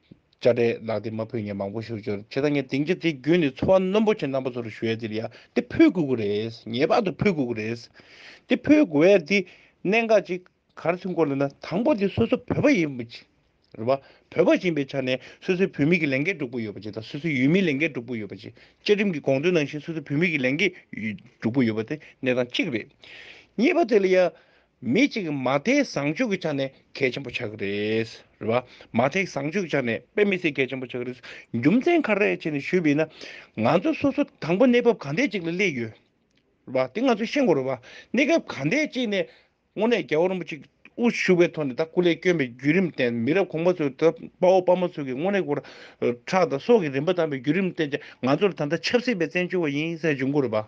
བཅའ་སྒྲའི་ལག་དེབ་མ་ཕུད་ངས་མང་པོ་ཞུ་འབྱོར་བྱེད་དང་ངས་གདིང་རྒྱ་དེ་བརྒྱུད་ནས་འཚོ་བ་རྣོན་པོ་ཆེ་རྣམ་པ་ཚོར་ཞུ་ཡ་དེར་ཡ་དེ་ཕུད་དགོས་ཀྱི་རེད་ངེས་པར་དུ་ཕུད་དགོས་ཀྱི་རེད། དེ་ཕུད་དགོས་ཡ་དེ་གནད་འགག་ཅིག་གར་ཐོན་སྐོར་ལ་ན་དང་པོ་དེ་སོ་སོ་བོད་པ་ཡིན་རེད་པ། བོད་པ་ཡིན་པའི་ཆ་ནས་སོ་སོའི་བུད་མེད་ཀྱི་ལས་འགན་སྒྲུབ་དགོས་ཡོད་པ་ཅིག་དང་སོ་སོའི་ཡུལ་མིའི་ལས་འགན་སྒྲུབ་དགོས་ཡོད་པ་ཅིག་བཅའ་ཁྲིམས་ཀྱི་དགོངས་དོན་ནང་བཞིན་སོ་སོའི་བུད་མེད་ཀྱི་ལས་འགན་སྒྲུབ་དགོས་ཡོད་པ་དེ་གནད་དང་གཅིག་རེད། གཉིས་པ་དེ་ལ་ཡ་མི་གཅིག་མ་མཐའི་བཟང་སྤྱོད་ཀྱི་ཆ་ནས་གལ་ཆེན་པོ་ཆགས་ཀྱི་རེད། རེད་བ། མ་མཐའི་བཟང་སྤྱོད་ཀྱི་ཆ་ནས་དཔེ་མི་སྲིད་གལ་ཆེན་པོ་ཆགས་ཀྱི་རེད། རྒྱུ་མཚན་ག་རེ་བྱས་ནས་ཞུས་པ་ཡིན་ན། ང་ཚོ་སོ་སོ་དང་པོ་གནས་བབ་ག་འདྲའི་ཅིག་ལ་སླེབས་ཡོད། རེད་བ། དེ་ང་ཚོས་ཤེས་དགོས་རེད་བ། གནས་སྐབས་ག་འདྲའི་ཅིག་ནས་དངོས་གནས་རྒྱལ་བ་རིན་པོ་ཆེ་དབུ་བཞུགས་པའི་ཐོག་ནས་ད་སྐུ་ལས་བསྐྱོན་པའི་བརྒྱུད་རིམ་བརྟེན་མི་རབས་གོང་པ་ཚོས་ད་དཔའ་བོ་དཔའ་མོ་ཚོས་ཀྱི་དངོས་གནས་སྐུ་དྲག་དང་སྲོག་གི་རིན་པ་བཏང་པའི་བརྒྱུད་རིམ་བརྟེན་ཅིང་ང་ཚོར་ད་ལྟ་ཆབ་སྲིད་པའི་བཙན་བྱོལ་བ་ཡིན་ཟེར་བྱུང་དགོས་རེད་བ།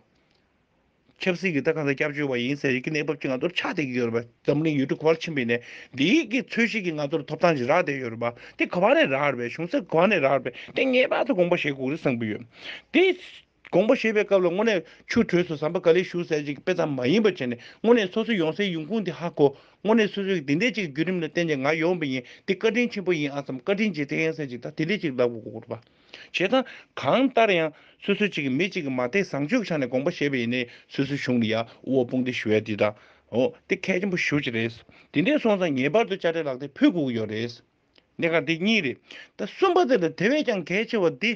ཆབ་སྲིད་ཀྱི་ལྟ་སྟངས་དང་སྐྱབས་བཅོལ་བ་ཡིན་ཟེར་ཡི་གེ་གནས་བབ་ཀྱི་ང་ཚོར་ཆགས་བསྡད་ཀྱི་ཡོད་རེད་པ། འཛམ་གླིང་ཡུལ་གྲུ་གོ་བར་ཕྱིན་པའི་ནས་འདི་ཡི་གེ་འཚོལ་བཤེར་གྱི་ང་ཚོར་ཐོབ་ཐང་ཞིག་རག་བསྡད་ཡོད་རེད་པ། དེ་ག་བ་ནས་རག་རེད་པས་གཞུང་སེམས་ག་བ་ནས་རག་རེད་པས་དེ་ངེས་པར་དུ་དགོངས་པ་བཞེས་དགོས་རེད་བསམ་གྱི་ཡོད། དེ། དགོངས་པ་བཞེས་པའི་སྐབས་ལ་དངོས་གནས་ཆུ་གྲོས་སུ་ཟམ་པ་ག་ལེར་བཞུགས་ཟེར་བྱེད་ཀྱི་དཔེ་ཙམ་མ་ཡིན་པར་བྱས་ནས་དངོས་གནས་སོ་སོ་ཡོང་སའི་ཡོང་ཁུངས་དེ་ཧ་གོ། དངོས་གནས་སོ་སོས་ཀྱི་དེ་འད་ཅིག་གི་བརྒྱུད་རིམ་ལ་བརྟེན་ནས་ང་ཡོང་བ་ཡིན་དེ་བཀའ་དྲིན་ཆེན་པོ་ཡིན་ཨ་བསམ་བཀའ་དྲིན་ཆེ་དེ་ཡིན་ཟེར་བྱེད་ཀྱི་ད་དེ་འད་ཅིག་ལབ་དགོས་རེད་པ། བྱེད་དང། གང་ལྟར་ཡང། སོ་སོའི་གཅིག་གིས་མི་གཅིག་གི་མ་དད་བཟང་སྤྱོད་ཀྱི་ཆ་ནས་དགོངས་པ་བཞེས་པ་ཡིན་ནའི་སོ་སོའི་གཞུང་ལ་ཡ་དབོ་དཔུང་སྡེ་ཞུ་བས་དེ་དང། འོ། དེ་གལ་ཆེན་པོ་ཞུ་རྒྱུ་རེད། དེ་འདྲས་སོང་ཙང་ངེས་པར་དུ་དཔྱ་ཁྲལ་ལག་དེབ་ཕུལ་དགོས་ཀྱི་ཡོད་རེད། གནད་འགག་འདི་གཉིས་རེད། ད་གསུམ་པ་དེ་ལས་དེ་བས་ཀྱང་གལ་ཆེ་བ་འདི།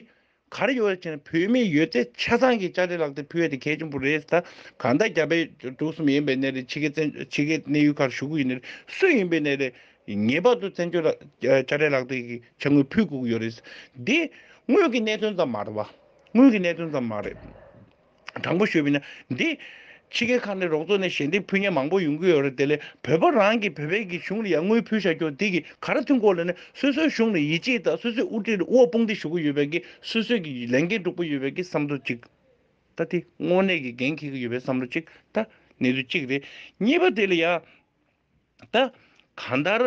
ག་རེ་ཡོད་རེད་ཅེ་ན་བོད་མི་ཡོད་ཚད་ཆ་ཚང་གིས་དཔྱ་ཁྲལ་ལག་དེབ་ཕུལ་བས་དེ་གལ་ཆེན་པོ་རེད། ད་གང་ལྟར་རྒྱ་བལ་འབྲུག་གསུམ་ཡིན་པའི་གནས་རེད་ཕྱི་དགེ་བཙན་བྱོལ་ཕྱི་དགེ་གནས་ཡུལ་ཁར་ཞུ་གི་ཡོད་ནི་རེད། སུ་ཡིན་པའི་གནས་རེད། ངེས་པར་དུ་བཙན་བྱོལ་དཔྱ་ཁྲལ་ལག་དེབ་ཀྱི་ཆ་དངུལ་ཕུད་བསྒུགས་ཡོད་རེད། འདི་དངུལ་གྱི་གནད་དོན་ཙམ་མ་རེད་བ། དངུལ་གྱི་གནད་དོན་ཙམ་མ་རེད། དྲང་པོ་ཞུས་པ་ནི་འདི་ཕྱི་རྒྱལ་ཁག་ནས་རོགས་ཚོགས་ནས་ཞལ་འདེབས་ཕུལ་མཁན་མང་པོ་ཡོང་གི་ཡོད་རེད་དེ་ལས་བོད་པ་རང་གི་བོད་པའི་གི་གཞུང་ལ་ཡར་དངུལ་ཕུལ་བཞག་རྒྱུ་དེ་གི་ག་རེ་མཐུན་སྐོར་ལ་ནི་སོ་སོའི་གཞུང་ལ་ཡིད་ཆེས་དང་སོ་སོའི་དབུ་ཁྲིད་ལ་དབུ་བ་དཔུང་སྡེ་ཞུ་གི་ཡོད་པའི་གི་སོ་སོའི་གི་ལས་འགན་སྒྲུབ་གི་ཡོད་པའི་གི་བསམ་བློ་གཅིག་ད་དེ་དངོས་གནས་གི་འགན་འཁྱེར་གི་ཡོད་པའི་བསམ་བློ་གཅིག་ད་གནད་དོན་གཅིག་རེད་གཉིས་པ་དེ་ལ་ཡར། ད་གང་ལྟར་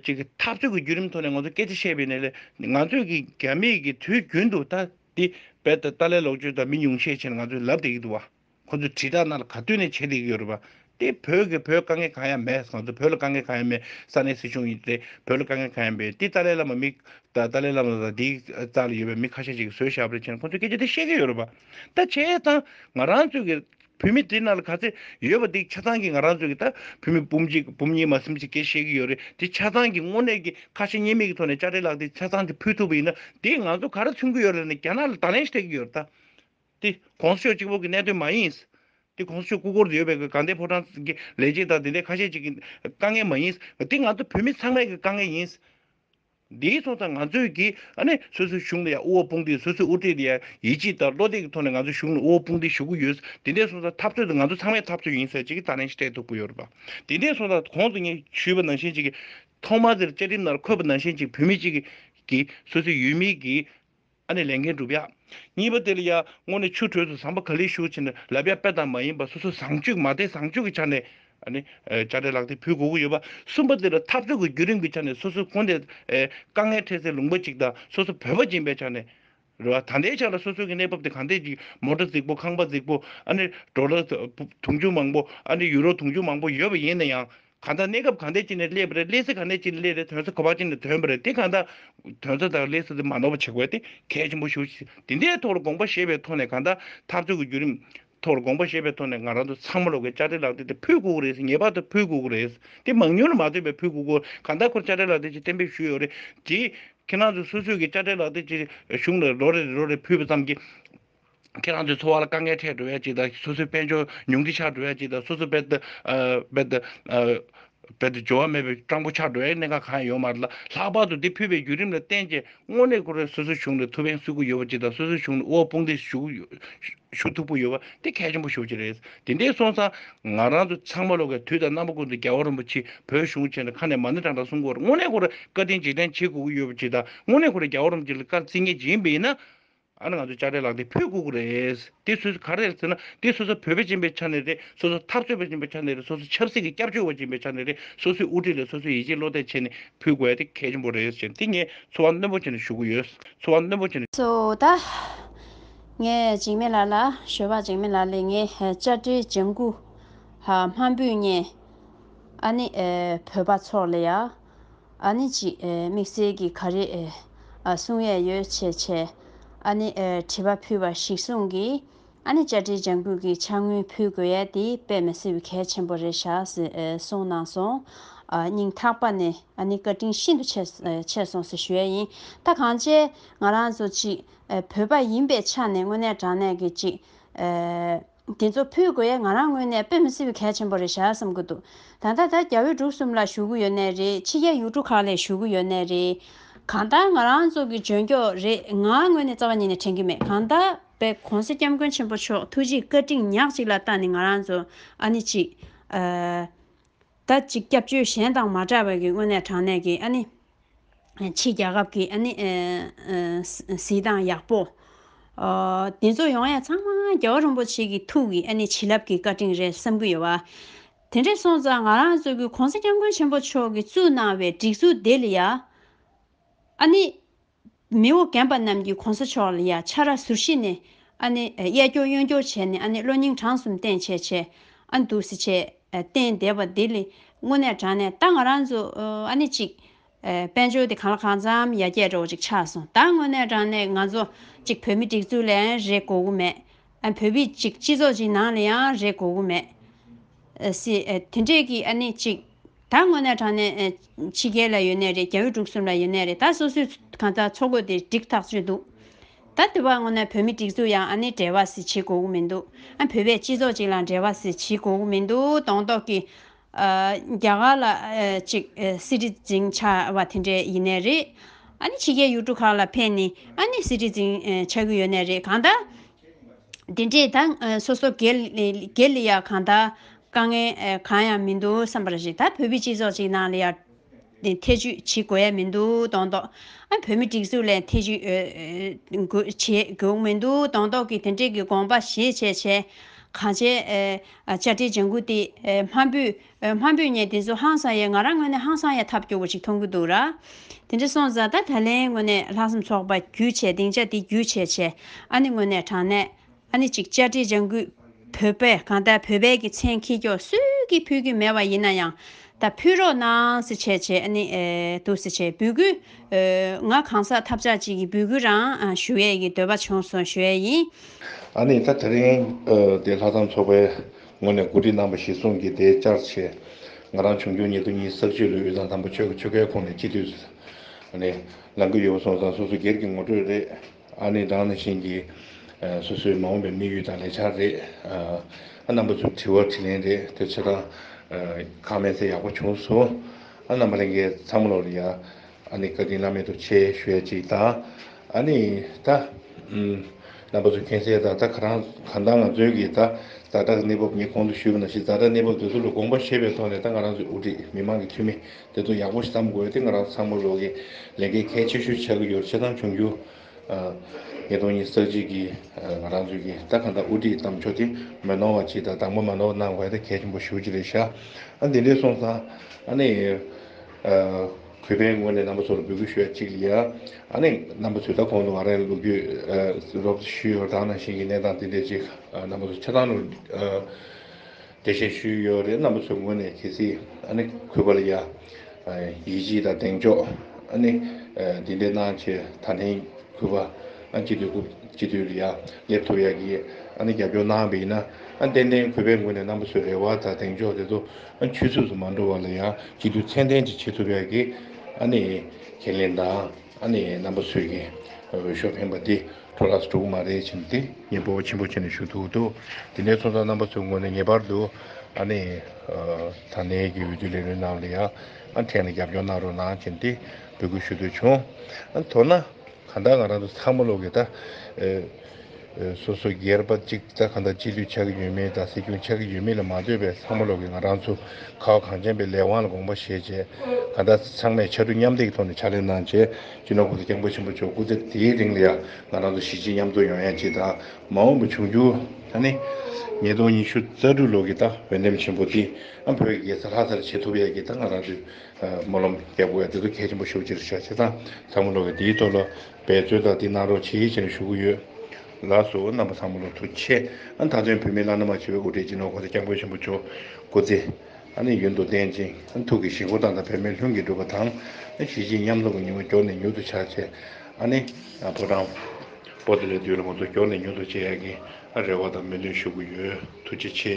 ཅིག་འཐབ་རྩོད་ཀྱི་བརྒྱུད་རིམ་ཐོག་ནས་ང་ཚོ་སྐད་ཆ་བཤད་པའི་ནས་ལས་ང་ཚོས་ཀྱི་རྒྱ་མིས་ཀྱི་དུས་རྒྱུན་དུ་ད་འདི་བལ་ད་ཏཱ་ལའི་ལོག་སྤྱོད་དང་མི་ཉུང་ཤས་ཆེ་ན་ང་ཚོས་ལབ་བསྡད་ཀྱི་འདུག་བ། ཁོ་ཚོས་དྲིལ་བསྒྲགས་ནར་ག་དུས་ནས་བྱེད་བསྡད་ཀྱི་ཡོད་རེད་བ། དེ་བོད་ཀྱི་བོད་དཀའ་ངལ་གང་ཡང་མེད་ང་ཚོ་བོད་ལ་དཀའ་ངལ་གང་ཡང་མེད་ས་གནས་སྲིད་གཞུང་ཡིན་ཏེ་བོད་ལ་དཀའ་ངལ་གང་ཡང་མེད་འདི་ཏཱ་ལའི་བླ་མ་མི་ད་ཏཱ་ལའི་བླ་མ་དང་འདིའི་རྩ་ལ་ཡོད་པའི་མི་ཁ་ཤས་ཅིག་གིས་བཟོས་བཞག་པ་རེད་ཅེ་ན་ཁོ་ཚོས་སྐད་ཆ་དེ་བཤད་ཀྱི་ཡོད་རེད་བ། ད་བྱས་ཙང་ང་རང་ཚོས་ཀྱི་བུད་མེད་དེ་ནང་ལ་ག་ཚད་ཡོད་པ་འདི་ཆ་ཚང་གི་ང་རང་ཚོ་གི་ད་བུད་མེད་སྤུན་གཅིག་སྤུན་གཉིས་མ་སེམས་ཅི་སྐད་བཤད་གི་ཡོད་རེད་དེ་ཆ་ཚང་གི་དངོས་གནས་ཀྱི་ཁ་ཞེ་གཉིས་མེད་ཀྱི་ཐོག་ནས་དཔྱ་ཁྲལ་ལག་དེ་ཆ་ཚང་དེ་ཕུལ་ཐུབ་པ་ཡིན་ན་དེ་ང་ཚོ་ག་རེ་མཚོན་གི་ཡོད་རེད་ནས་རྒྱ་ནག་ལ་དང་ལེན་བྱེད་ཀྱི་ཡོད་རེད་ད། དེ་གོང་ས་མཆོག་གཅིག་པོ་གི་གནད་དོན་མ་ཡིན། དེ་གོང་ས་མཆོག་སྐུ་འཁོར་དུ་ཡོད་པའི་གི་གང་དེ་ཕོ་བྲང་གི་ལས་བྱེད་དང་དེ་འདྲའི་ཁ་ཤས་ཅིག་གི་དཀའ་ངལ་མ་ཡིན། དེ་ང་ཚོ་བུད་མེད་ཚང་མའི་གི་དཀའ་ངལ་ཡིན། འདིའི་ཐོག་ད་ང་ཚོས་ཀྱིས་ནི་སོ་སོའི་གཞུང་ལ་ཡང་དབུ་བ་དཔུང་སྡེས་སོ་སོའི་དབུ་ཁྲིད་དེ་ཡང་ཡིད་ཆེས་དང་བློ་གཏད་ཀྱི་ཐོག་ནས་ང་ཚོའི་གཞུང་ལ་དབུ་བ་དཔུང་སྡེ་ཞུ་གི་ཡོད། དེ་འདྲའི་སོང་ས་འཐབ་རྩོད་དེ་ང་ཚོ་ཚང་མའི་འཐབ་རྩོད་ཡིན་ཟེར་ཅིག་གི་ད་ནས་ཤེས་ཐུབ་ཀྱི་ཡོད་རེད་པ། དེ་འདྲའི་སོང་ས་གོང་དུ་ངས་ཞུས་པ་ནང་བཞིན་ཅིག་གིས། ཐོག་མར་དེར་བཅའ་ཁྲིམས་ནང་འཁོད་པ་ནང་བཞིན་ཅིག་བོད་མི་གཅིག་གིས་སོ་སོའི་ཡུལ་མིའི་གིས། ཨ་ནི་ལས་མཁན་བསྒྲུབ་ཡག། གཉིས་པ་དེ་ལ་ཡར་སྔོན་ནས་ཆུ་དྲོད་དུ་བཟང་པོ་ག་ལེར་ཞུགས་ཕྱིན་ན་ལབ་ཡག་དཔེ་དང་མ་ཡིན་པ་སོ་སོ་བཟང་སྤྱོད་མ་དད་བཟང་སྤྱོད་ཀྱི་ཆ་ནས་ཨ་ནི་དཔྱ་ཁྲལ་ལག་དེབ་ཕུལ་དགོས་ཀྱི་ཡོད་པ། གསུམ་པ་དེ་ལ་འཐབ་རྩོད་ཀྱི་བརྒྱུད་རིམ་གྱི་ཆ་ནས་སོ་སོའི་དགོན་སྡེ་དཀའ་ངལ་འཕྲད་སའི་ལུང་པ་ཅིག་དང་སོ་སོ་བོད་པ་སྦྱིན་པའི་ཆ་ནས་རེད་བ། ད་ལྟའི་ཆ་ལ་སོ་སོའི་གི་གནས་བབ་དེ་གང་འད་ཅིག་མོ་ཏྲ་རྫིག་པོ་ཁང་པ་རྫིག་པོ་ཨ་ནི་འགྲོ་ལ་དུང་ཕྱུར་མང་པོ་ཨ་ནི་ཡུ་རོ་དུང་ཕྱུར་མང་པོ་ཡོད་པ་ཡིན་ན་ཡང་གང་དག་གནས་སྐབས་གང་དད་ཅིག་ནས་བསླད་པ་རེད་བསླད་ཚེ་གང་དད་ཅིག་ནས་བསླད་རེད་དོན་ཚོད་གོ་བ་ཅིག་ནས་དོན་པ་རེད་དེ་གང་དག་དོན་ཚོད་དང་བསླད་ཚེ་དེ་མ་ནོར་བ་བྱེད་དགོས་ཏེ་གལ་ཆེན་པོ་ཞུ་དེ་འདའི་ཐོག་ལ་དགོངས་པ་བཞེས་པའི་ཐོག་ནས་གང་དག་ཐག་གཅོད་ཀྱི་བརྒྱུད་རིམ་ཐོག་ལ་དགོངས་པ་བཞེས་པའི་ཐོག་ནས་ང་རང་ཚོ་ཚང་མ་ལོག་གི་དཔྱ་ཁྲལ་ལག་དེབ་དེ་ཕུལ་དགོས་ཀྱི་རེད་ཟེར་ངེས་པར་དུ་ཕུལ་དགོས་ཀྱི་རེད་དེ་མང་ཉུང་ལ་མ་ལྟོས་པའི་ཕུལ་དགོས་ཀྱི་གང་དག་ཁོར་དཔྱ་ཁྲལ་ལག་དེབ་ཅིག་གཏན་འབེབས་ཞུས་ཡོད་རེད་དེ། ཁྱེད་རང་ཚོ་སོ་སོས་ཀྱི་དཔྱ་ཁྲལ་ལག་དེབ་ཅིག་གཞུང་ལ་ལོ་རེ་རེ་ལོ་རེ་ཕུལ་བ་ཙམ་གྱིས། ཁྱེད་རང་ཚོའི་འཚོ་བ་ལ་དཀའ་ངལ་འཕྲད་འགྲོ་བས་ཅི་ལྟར་སོ་སོའི་དཔལ་འབྱོར་ཉུང་འཕྲི་ཆགས་འགྲོ་བས་ཅི་ལྟར་སོ་སོའི་དཔལ་འབྱོར་བ་མེད་པའི་སྤྲང་པོ་ཆགས་འགྲོ་བས་གནད་འགག་གང་ཡང་ཡོང་མ་ཐལ། ལྷག་པར་དུ་འདི་ཕུད་པའི་བརྒྱུད་རིམ་ལ་བརྟེན་ཅིང་དངོས་གནས་ཁོ་རང་སོ་སོའི་གཞུང་ནས་ཐུགས་ཕན་གསོས་ཁུལ་ཡོད་པ་ཅི་ལྟར་སོ་སོའི་གཞུང་ནས་དབུལ་བ་དཔུང་སྡེ་ཞུགས་ཐུབ་ཁུལ་ཡོད་པ་དེ་གལ་ཆེན་པོ་ཤོས་ཅིག་རེད། དེ་འདྲའི་སོང་ཙང་ང་རང་ཚོ་ཚང་མ་ལོ་ཀའི་དུས་དང་རྣམ་པ་ཀུན་ཏུ་རྒྱལ་བ་རིན་པོ་ཆེས་བོད་གཞུང་ཆེན་ལ་ཁ་ནས་མ་ཎི་དྲག་དྲག་གསུང་སྐོར་དངོས་གནས་ཁོ་རང་བཀའ་དྲིན་རྗེས་དྲན་བྱེད་དགོས་ཀྱི་ཡོད་པ་ཅི་ལྟར་དངོས་གནས་ཁོ་རང་རྒྱལ་བ་རིན་པོ་ཆེ་ལ་བཀའ་བརྩི་ངེས་ཅི་ཡིན་པ་ཡིན་ན། ཨ་ནི་ང་ཚོས་དཔྱ་ཁྲལ་ལག་དེབ་ཕུད་བསྐུར་གི་རེད། དེ་སོ་སོ་ག་རེད་ཟེར་ན་དེ་སོ་སོ་བོད་པ་ཅན་པའི་ཆ་ནས་རེད་སོ་སོ་འཐབ་རྩོད་པ་ཅན་པའི་ཆ་ནས་རེད་སོ་སོ་ཆབ་སྲིད་ཀྱི་སྐྱབས་བཅོལ་བ་ཅན་པའི་ཆ་ནས་རེད་སོ་སོའི་དབུ་ཁྲིད་ལ་སོ་སོའི་ཡིད་ཆེས་བློ་གཏད་བྱས་ནས་ཕུད་དགོས་དེ་གལ་ཆེན་པོ་རེད་ཟེར་དེ་ངས་འཚོ་བ་རྣོན་པོ་བྱས་ནས་ཞུ་གི་ཡོད་འཚོ་བ་རྣོན་པོ་བྱས་ནས། གཙོ་བོ་ད་ངས་འཇིགས་མེད་ལགས་ལ་ཞོལ་བ་འཇིགས་མེད་ལགས་ལས་ངས་དཔྱ་ཁྲལ་ལྗང་གུ་ཧ་མ་འབུད་ངས་ཨ་ནི་བོད་པ་ཚོགས་ལ་ཡ། ཨ་ནི་ཅི། དམིགས་བསལ་གྱི་ག་རེ། གསུང་ཡས་ཡོད་བྱས་བྱས། ཨ་ནི། བྲིས་པ་ཕུལ་བ་ཞིག་གསུང་གི། ཨ་ནི་བཅར་འདྲིའི་ལྗང་བུ་གི་ཆ་དངུལ་ཕུལ་དགོས་ཡས་དེ་དཔེ་མི་སྲིད་བུ་གལ་ཆེན་པོ་རེད་བཞག་ཟེར་གསུང་གནང་སོང། སྙིང་ཐག་པ་ནས་ཨ་ནི་བཀའ་དྲིན་ཤིན་ཏུ་ཆེ་ཆེ་སོང་ཟེར་ཞུ་ཡས་ཡིན་ད་གང་བྱས་ང་རང་ཚོ་གཅིག་བོད་པ་ཡིན་པའི་ཆ་ནས་དངོས་གནས་དྲང་གནས་ཀྱི་གཅིག། དེ་ཚོ་ཕུད་དགོས་ཡས་ང་རང་དངོས་གནས་དཔེ་མི་སྲིད་བའི་གལ་ཆེན་པོ་རེད་ཞག་བསམ་གི་འདུག་ད་ལྟ་ད་རྒྱ་བོད་འབྲུག་གསུམ་ལ་ཞུ་གི་ཡོད་ནའི་རེད་ཕྱི་རྒྱལ་ཡུལ་གྲུ་ཁག་ལས་ཞུ་གི་ཡོད་ནའི་རེད་གང་ལྟར་ང་རང་ཚོ་གི་འཇོན་ཀྱོག་རེད་ང་དངོས་གནས་རྩ་བ་ཉིད་ནས་དྲན་གི་མེད་གང་ལྟར་བའི་གོང་ས་སྐྱབས་མགོན་ཆེན་པོ་མཆོག་ཐུགས་རྗེའི་བཀའ་དྲིན་ཉག་གཅིག་ལ་བཏགས་ནས་ང་རང་ཚོ་ཨ་ནི་གཅིག། ད་ཅིག་སྐྱབས་བཅོལ་གཞན་དང་མ་འདྲ་བའི་དངོས་གནས་དྲང་གནས་ཀྱི་ཨ་ནི། ཕྱི་རྒྱལ་ཁབ་ཀྱི་ཨ་ནི། གཟིགས་སྟངས་ཡག་པོ། དེ་ཚོ་ཡོང་ཡས་ཚང་མ་རྒྱལ་བ་རིན་པོ་ཆེ་གི་ཐུགས་ཀྱི་ཨ་ནི་བྱིན་རླབས་ཀྱི་བཀའ་དྲིན་རེད་བསམ་གྱི་ཡོད་བ། དེ་འདྲས་སོང་ཙང་ང་རང་ཚོ་གི་གོང་ས་སྐྱབས་མགོན་ཆེན་པོ་མཆོག་གི་བཙུགས་གནང་བའི་སྒྲིག་འཛུགས་དེ་ལ་ཡང། ཨ་ནི། མི་འོ་གན་པ་རྣམས་ཀྱིས་གོང་ས་མཆོག་ལ་ཡ་ཆ་ར་ཟུར་བཞི་ནས། ཨ་ནི། གཡས་སྐྱོར་གཡོན་སྐྱོར་བྱས་ནས་ཨ་ནི་གློ་སྙིང་བྲང་གསུམ་བསྟན་བྱས་བྱས། ཨ་འདུག་སེ་བྱས། བསྟན་བསྡད་པ་དེ་ལས། དངོས་གནས་དྲང་ནས་ད་ང་རང་ཚོ། ཨ་ནི་གཅིག། དཔལ་འབྱོར་དེ་གང་ལ་གང་འཚམ་ཡ་བརྒྱད་འདྲ་བོ་ཅིག་ཆགས་སོང་ད་དངོས་གནས་དྲང་ནས་ང་ཚོ། གཅིག་བོད་མི་སྒྲིག་འཛུགས་ལའང་རེ་གོ་གི་མེད། ཨ་བོད་མི་གཅིག་སྤྱི་ཚོགས་ཅིག་ནང་ལ་ཡང་རེ་གོ་གི་མེད། དེ་འདྲས་ཀྱི་ཨ་ནི་གཅིག། ད་དངོས་གནས་དྲང་གནས། ཕྱི་རྒྱལ་ལ་ཡོད་ནའི་རེད་རྒྱ་བོད་འབྲུག་གསུམ་ལ་ཡོད་ནའི་རེད་ད་སོ་སོས་གང་ལྟར་འཚོ་དགོས་དེ་འགྲིག་ཐག་ཆོད་འདུག་ད་དེ་བ་དངོས་གནས་བོད་མི་སྒྲིག་འཛུགས་ཡང་ཨ་ནི་འབྲེལ་བ་ཟིག་བྱེད་དགོས་མིན་འདུག་ཨ་བོད་པའི་སྤྱི་ཚོགས་ཅིག་ལ་འབྲེལ་བ་ཟིག་བྱེད་དགོས་མིན་འདུག་དོང་ཏོག་གི། རྒྱ་གར་ལ་གཅིག་སི་ཏི་ཛིན་ཆགས་བ་དེ་འདྲས་ཡིན་ནའི་རེད། ཨ་ནི་ཕྱི་རྒྱལ་ཡུལ་གྲུ་ཁག་ལ་ཕེབས་ནས་ཨ་ནི་སི་ཏི་ཛིན་ཆགས་ཀྱི་ཡོད་ནའི་རེད་གང་ལྟར་འདི་འདྲས་ད་སོ་སོ་དགེ་ལས་ལ་ཡང་གང་དག་དཀའ་ངལ་གང་ཡང་མི་འདུག་བསམ་པར་བཞེད་ད་བོད་པའི་སྤྱི་ཚོགས་ཅིག་ནང་ལ་ཡང་ཐེ་ཇུས་བྱེད་དགོས་ཡ་མི་འདུག་དོན་ཏོ། བོད་མི་སྒྲིག་འཛུགས་ལ་ཡང་ཐེ་ཇུས་བྱེད་དགོས་མི་འདུག་དོན་ཏོ་གིས་དེ་འདྲས་ཀྱི་དགོངས་པ་བཞེས་བྱས་བྱས། གང་བྱས་བཅའ་ཁྲིམས་ལྗང་གུ་དེ་དམར་པོས། འོན་མ་བུ་ངས་དེ་ཚོ་ཧང་སང་ཡས་ང་རང་དངོས་གནས་ཧང་སང་ཡས་ཐབས་སྐྱོ་བོ་ཞིག་མཐོང་གི་འདུག་ར། དེ་འདྲ་སོང་ཙང་ད་ད་ལན་དངོས་གནས་ལྷག་བསམ་ཚོགས་པ་རྒྱུད་ཆད་སྡིངས་ཆ་འདི་རྒྱུད་ཆད་ཆད་ཨ་ནི་དངོས་གནས་དྲང་གནས་ཨ་ནི་ཅིག་བཅར་འདྲི་ལྗང་གུས་བོད་པས་གང་ལྟར་བོད་པའི་གི་མཚན་ཁྱི་སྐྱོག་སུས་གི་ཕུལ་གི་མེད་བ་ཡིན་ན་ཡང་ད་ཕུལ་རོགས་གནང་སི་བྱས་བྱས་ཨ་ནི་འདུག་སི་བྱས་འབུལ་གུས་ང་གང་ཟག་ཐབས་ཆག་ཅིག་གི་འབུལ་གུས་རང་ཞུ་ཡས་གི་འདོད་པ་བྱུང་སོང་ཞུ་ཡས་ཡིན། ཨ་ནི་ད་ད་རིང་འདི་ལྷག་བསམ་ཚོགས་པའི་ངོས་ནས་གོ་སྒྲིག་གནང་བ་གཞིར་བཟུང་གིས་དེའི་བཅར་ཆས་ང་རང་བྱུང་འགྱུར་ཉེ་དུ་གཉིས་བསགས་ཆོས་ལུགས་དབུས་གཙང་དམ་པ་ཆོས་ཀྱི་ཆོལ་ཁའི་ཁོངས་ནས་སྤྱི་འཐུས་ནས་ལངས་ཀྱི་ཡོད་པ་སོང་ཙང་སོ་སོ་སྒེར་གྱི་ངོ་སྤྲོད་རེད་ཨ་ནི་སྦྲང་ནི་ཤིང་གི་སོ་སོའི་མ་འོངས་པའི་དམིགས་ཡུལ་དང་ལས་འཆར་རེད་ཨ་རྣམ་པ་ཚོས་དྲི་བ་དྲི་ལན་རེད་དེ་ཚོད་དང་ཁག་མེད་ཚེ་ཡག་པོ་བྱུང་སོང་ཨ་རྣམ་པ་ལས་འགལ་ཚང་མ་ལོག་རེད་ཡ། ཨ་ནི་བཀའ་དྲིན་བླ་མེད་དུ་ཆེ་ཞོད་ཅིག་དང། ཨ་ནི་ད། རྣམ་པ་ཚོ་མཁྱེན་གསལ་དང་ད་ག་རང་གང་ལྟར་ང་ཚོའི་གིས་ད་རྫ་དྲག་གནས་བབ་ངས་གོང་དུ་ཞུས་པ་ནང་བཞིན་རྫ་དྲག་གནས་བབ་དེ་ཚོ་ལ་དགོངས་པ་བཞེས་པའི་ཐོག་ནས་ད་ང་རང་ཚོའི་དབུ་ཁྲིད་མི་དམངས་ཀྱི་འཐུས་མི་དེ་ཚོ་ཡག་པོ་ཞིག་བདམས་དགོས་ཏེ་ང་རང་ཚང་མ་རོགས་གིས་ལས་འགན་གལ་ཆེ་ཤོས་ཆགས་ཀྱི་ཡོད་བྱེད་སྟངས་བྱུང་རྒྱུ། ཉིས་སྟོང་ཉིས་བརྩེགས་གཅིག་གིས་ང་རང་ཚོའི་གིས་ད་གང་ལྟར་དབུ་ཁྲིད་བདམས་ཕྱོགས་དེ་མི་ནོར་བ་ཅིག་དང་དང་པོ་མ་ནོར་བ་གནང་བས་ད་གལ་ཆེན་པོ་ཞུ་རྒྱུ་རེད་ཤག་ཨ་འདི་འདྲས་སོང་ཙང་ཨ་ནི། གུས་པའི་ངོས་ནས་རྣམ་པ་ཚོར་འབོད་སྐུལ་ཞུ་ཡ་གཅིག་ལ་ཡ། རྣམ་པ་ཚོས་ད་གོང་དུ་ང་རང་ལོ་རྒྱུས་རོབ་ཙེ་ཞུས་ཡོད་རང་ནང་བཞིན་གྱི་གནས་སྟངས་འདི་འདྲའི་ཅིག་རྣམ་པ་ཚོར་ཆ་ཚང་ནོར་འདྲི་བཤད་ཞུས་ཡོད་རེད་རྣམ་པ་ཚོའི་ངོས་ནས་གལ་སྲིད་གུས་པ་ལ་ཡ། ཡིད་ཆེས་དང་གདེང་འཇོག་འདི་འདྲའི་གནང་ཆེད་ད་ལན་གུས་པ་སྤྱི་འཐུས་སྐུ་སྤྱི་འཐུས་ལ་ཡ་སླེབས་ཐུབ་ཡ་གི་རྒྱབ་སྐྱོར་གནང་བ་ཡིན་ན་ཏན་ཏན་གུས་པའི་ངོས་ནས་རྣམ་པ་ཚོའི་རེ་བ་དང་གདེང་འཇོག་དེ་ཚོ་ཆོས་ཚུགས་སུ་མ་འགྲོ་བ་ལ་ཡང་གཅིག་ཏུ་མཚན་ལྡན་གྱི་ཆོས་ཐུབ་པའི་ཁས་ལེན་དང་རྣམ་པ་ཚོས་ཀྱི་འོས་ཤོག་འཕེན་པ་འདི་འཕྲོ་བརླགས་སུ་འགྲོ་གི་མ་རེད་བྱས་ཏེ་སྙིང་བོ་ཆེན་པོ་བྱས་ནས་ཞུ་གཏུག་འདུག་དེ་ནས་ཚོགས་གཙོ་རྣམ་པ་ཚོའི་ངོས་ནས་ངེས་པར་དུ་ད་ནས་ཀྱི་འོས་བསྡུའི་ལས་རོལ་རྣམས་ལ་ཡང་ཕྲན་ལ་རྒྱབ་སྐྱོར་གནང་རོགས་གནང་བྱས་ཏེ་འབོད་སྐུལ་ཞུ་འདོད་བྱུང། མདོར་ན། གང་ལྟར་ང་རང་ཚོ་ཚང་མ་བློ་གས་ད། སོ་སོ་སྒེར་པ་གཅིག་རྩ་གང་དག་སྤྱི་འཐུས་ཆགས་ཀྱི་ཡོད་མེད་དང་སྲིད་སྐྱོང་ཆགས་ཀྱི་ཡོད་མེད་ལ་མ་ལྟོས་པའི་ཚང་མ་ལོག་གི་ང་རང་ཚོ་ཁ་བ་གངས་ཅན་པའི་ལས་དབང་ལ་དགོངས་པ་བཞེས་རྗེས་ད་ལྟ་ཚང་མས་ཕྱར་གྲུ་མཉམ་འདེགས་ཀྱི་ཐོག་ནས་ཕྱག་ལས་གནང་རྗེས་སྤྱི་ནོར་བུ་ལ་སྐྱབས་འགོ་ཆེན་པོ་བཅོལ་སྐུ་ཚེ་དེའི་རིང་ལ་ཡང་ང་རང་ཚོ་གཞིས་བྱེས་མཉམ་འཛོམས་ཡོང་ཡ་གཅིག་དང་མ་འོངས་པ་འབྱུང་འགྱུར་ད་ནི་ཉིས་སྟོང་ཉི་ཤུ་རྩ་དྲུག་ལོ་གི་ད་འོས་འདེམས་ཆེན་པོ་འདིའང་བོད་ཀྱི་རྒྱལ་ས་ལྷ་སར་བྱེད་ཐུབ་ཡ་གཅིག་དང་ང་རང་ཚོའི་སྨོན་ལམ་སྐྱབས་འགོ་ཡང་འདི་ཚོ་གལ་ཆེན་པོ་ཤོག་ཅེས་བཞག་རྗེས་ད་ཚང་མ་ལོག་གི་འདིའི་ཐོག་ལ། འབད་རྩོལ་དང་དེ་གནང་རོགས་ཆེ་ཡིད་ཆེ་ནས་ཞུ་གི་ཡོད། ལགས་སོ་རྣམ་པ་ཚང་མ་ལོ་ཐུགས་ཆེ། ད་དོན་བོད་མི་བླ་ན་མ་མཆིས་པའི་དབུ་སྐྲའི་སྤྱི་ནོར་ཁོང་ཚ་སྐྱབས་མགོན་ཆེན་པོ་མཆོག་སྐུ་ཚེ་ནི་ཡུན་དུ་བརྟན་ཅིང་ཐུགས་ཀྱི་ཞིང་ཁོ་ཐང་དང་བོད་མི་ལྷུན་གྱིས་གྲུབ་པ་དང། གཞིས་བྱེས་མཉམ་འཛོམས་ཀྱི་ཉིན་མོ་མགྱོགས་ནས་མྱུར་དུ་ཆགས་ཆེ། ཕོ་བྲང། པོ་ཏི་ལའི་དུས་ལ་ང་ཚོ་མགྱོགས་ནས་མྱུར་དུ་མཇལ་ཡག་གི་རེ་བ་དང་སྨོན་འདུན་ཞུ་གི་ཡོད་ཐུགས་རྗེ་ཆེ།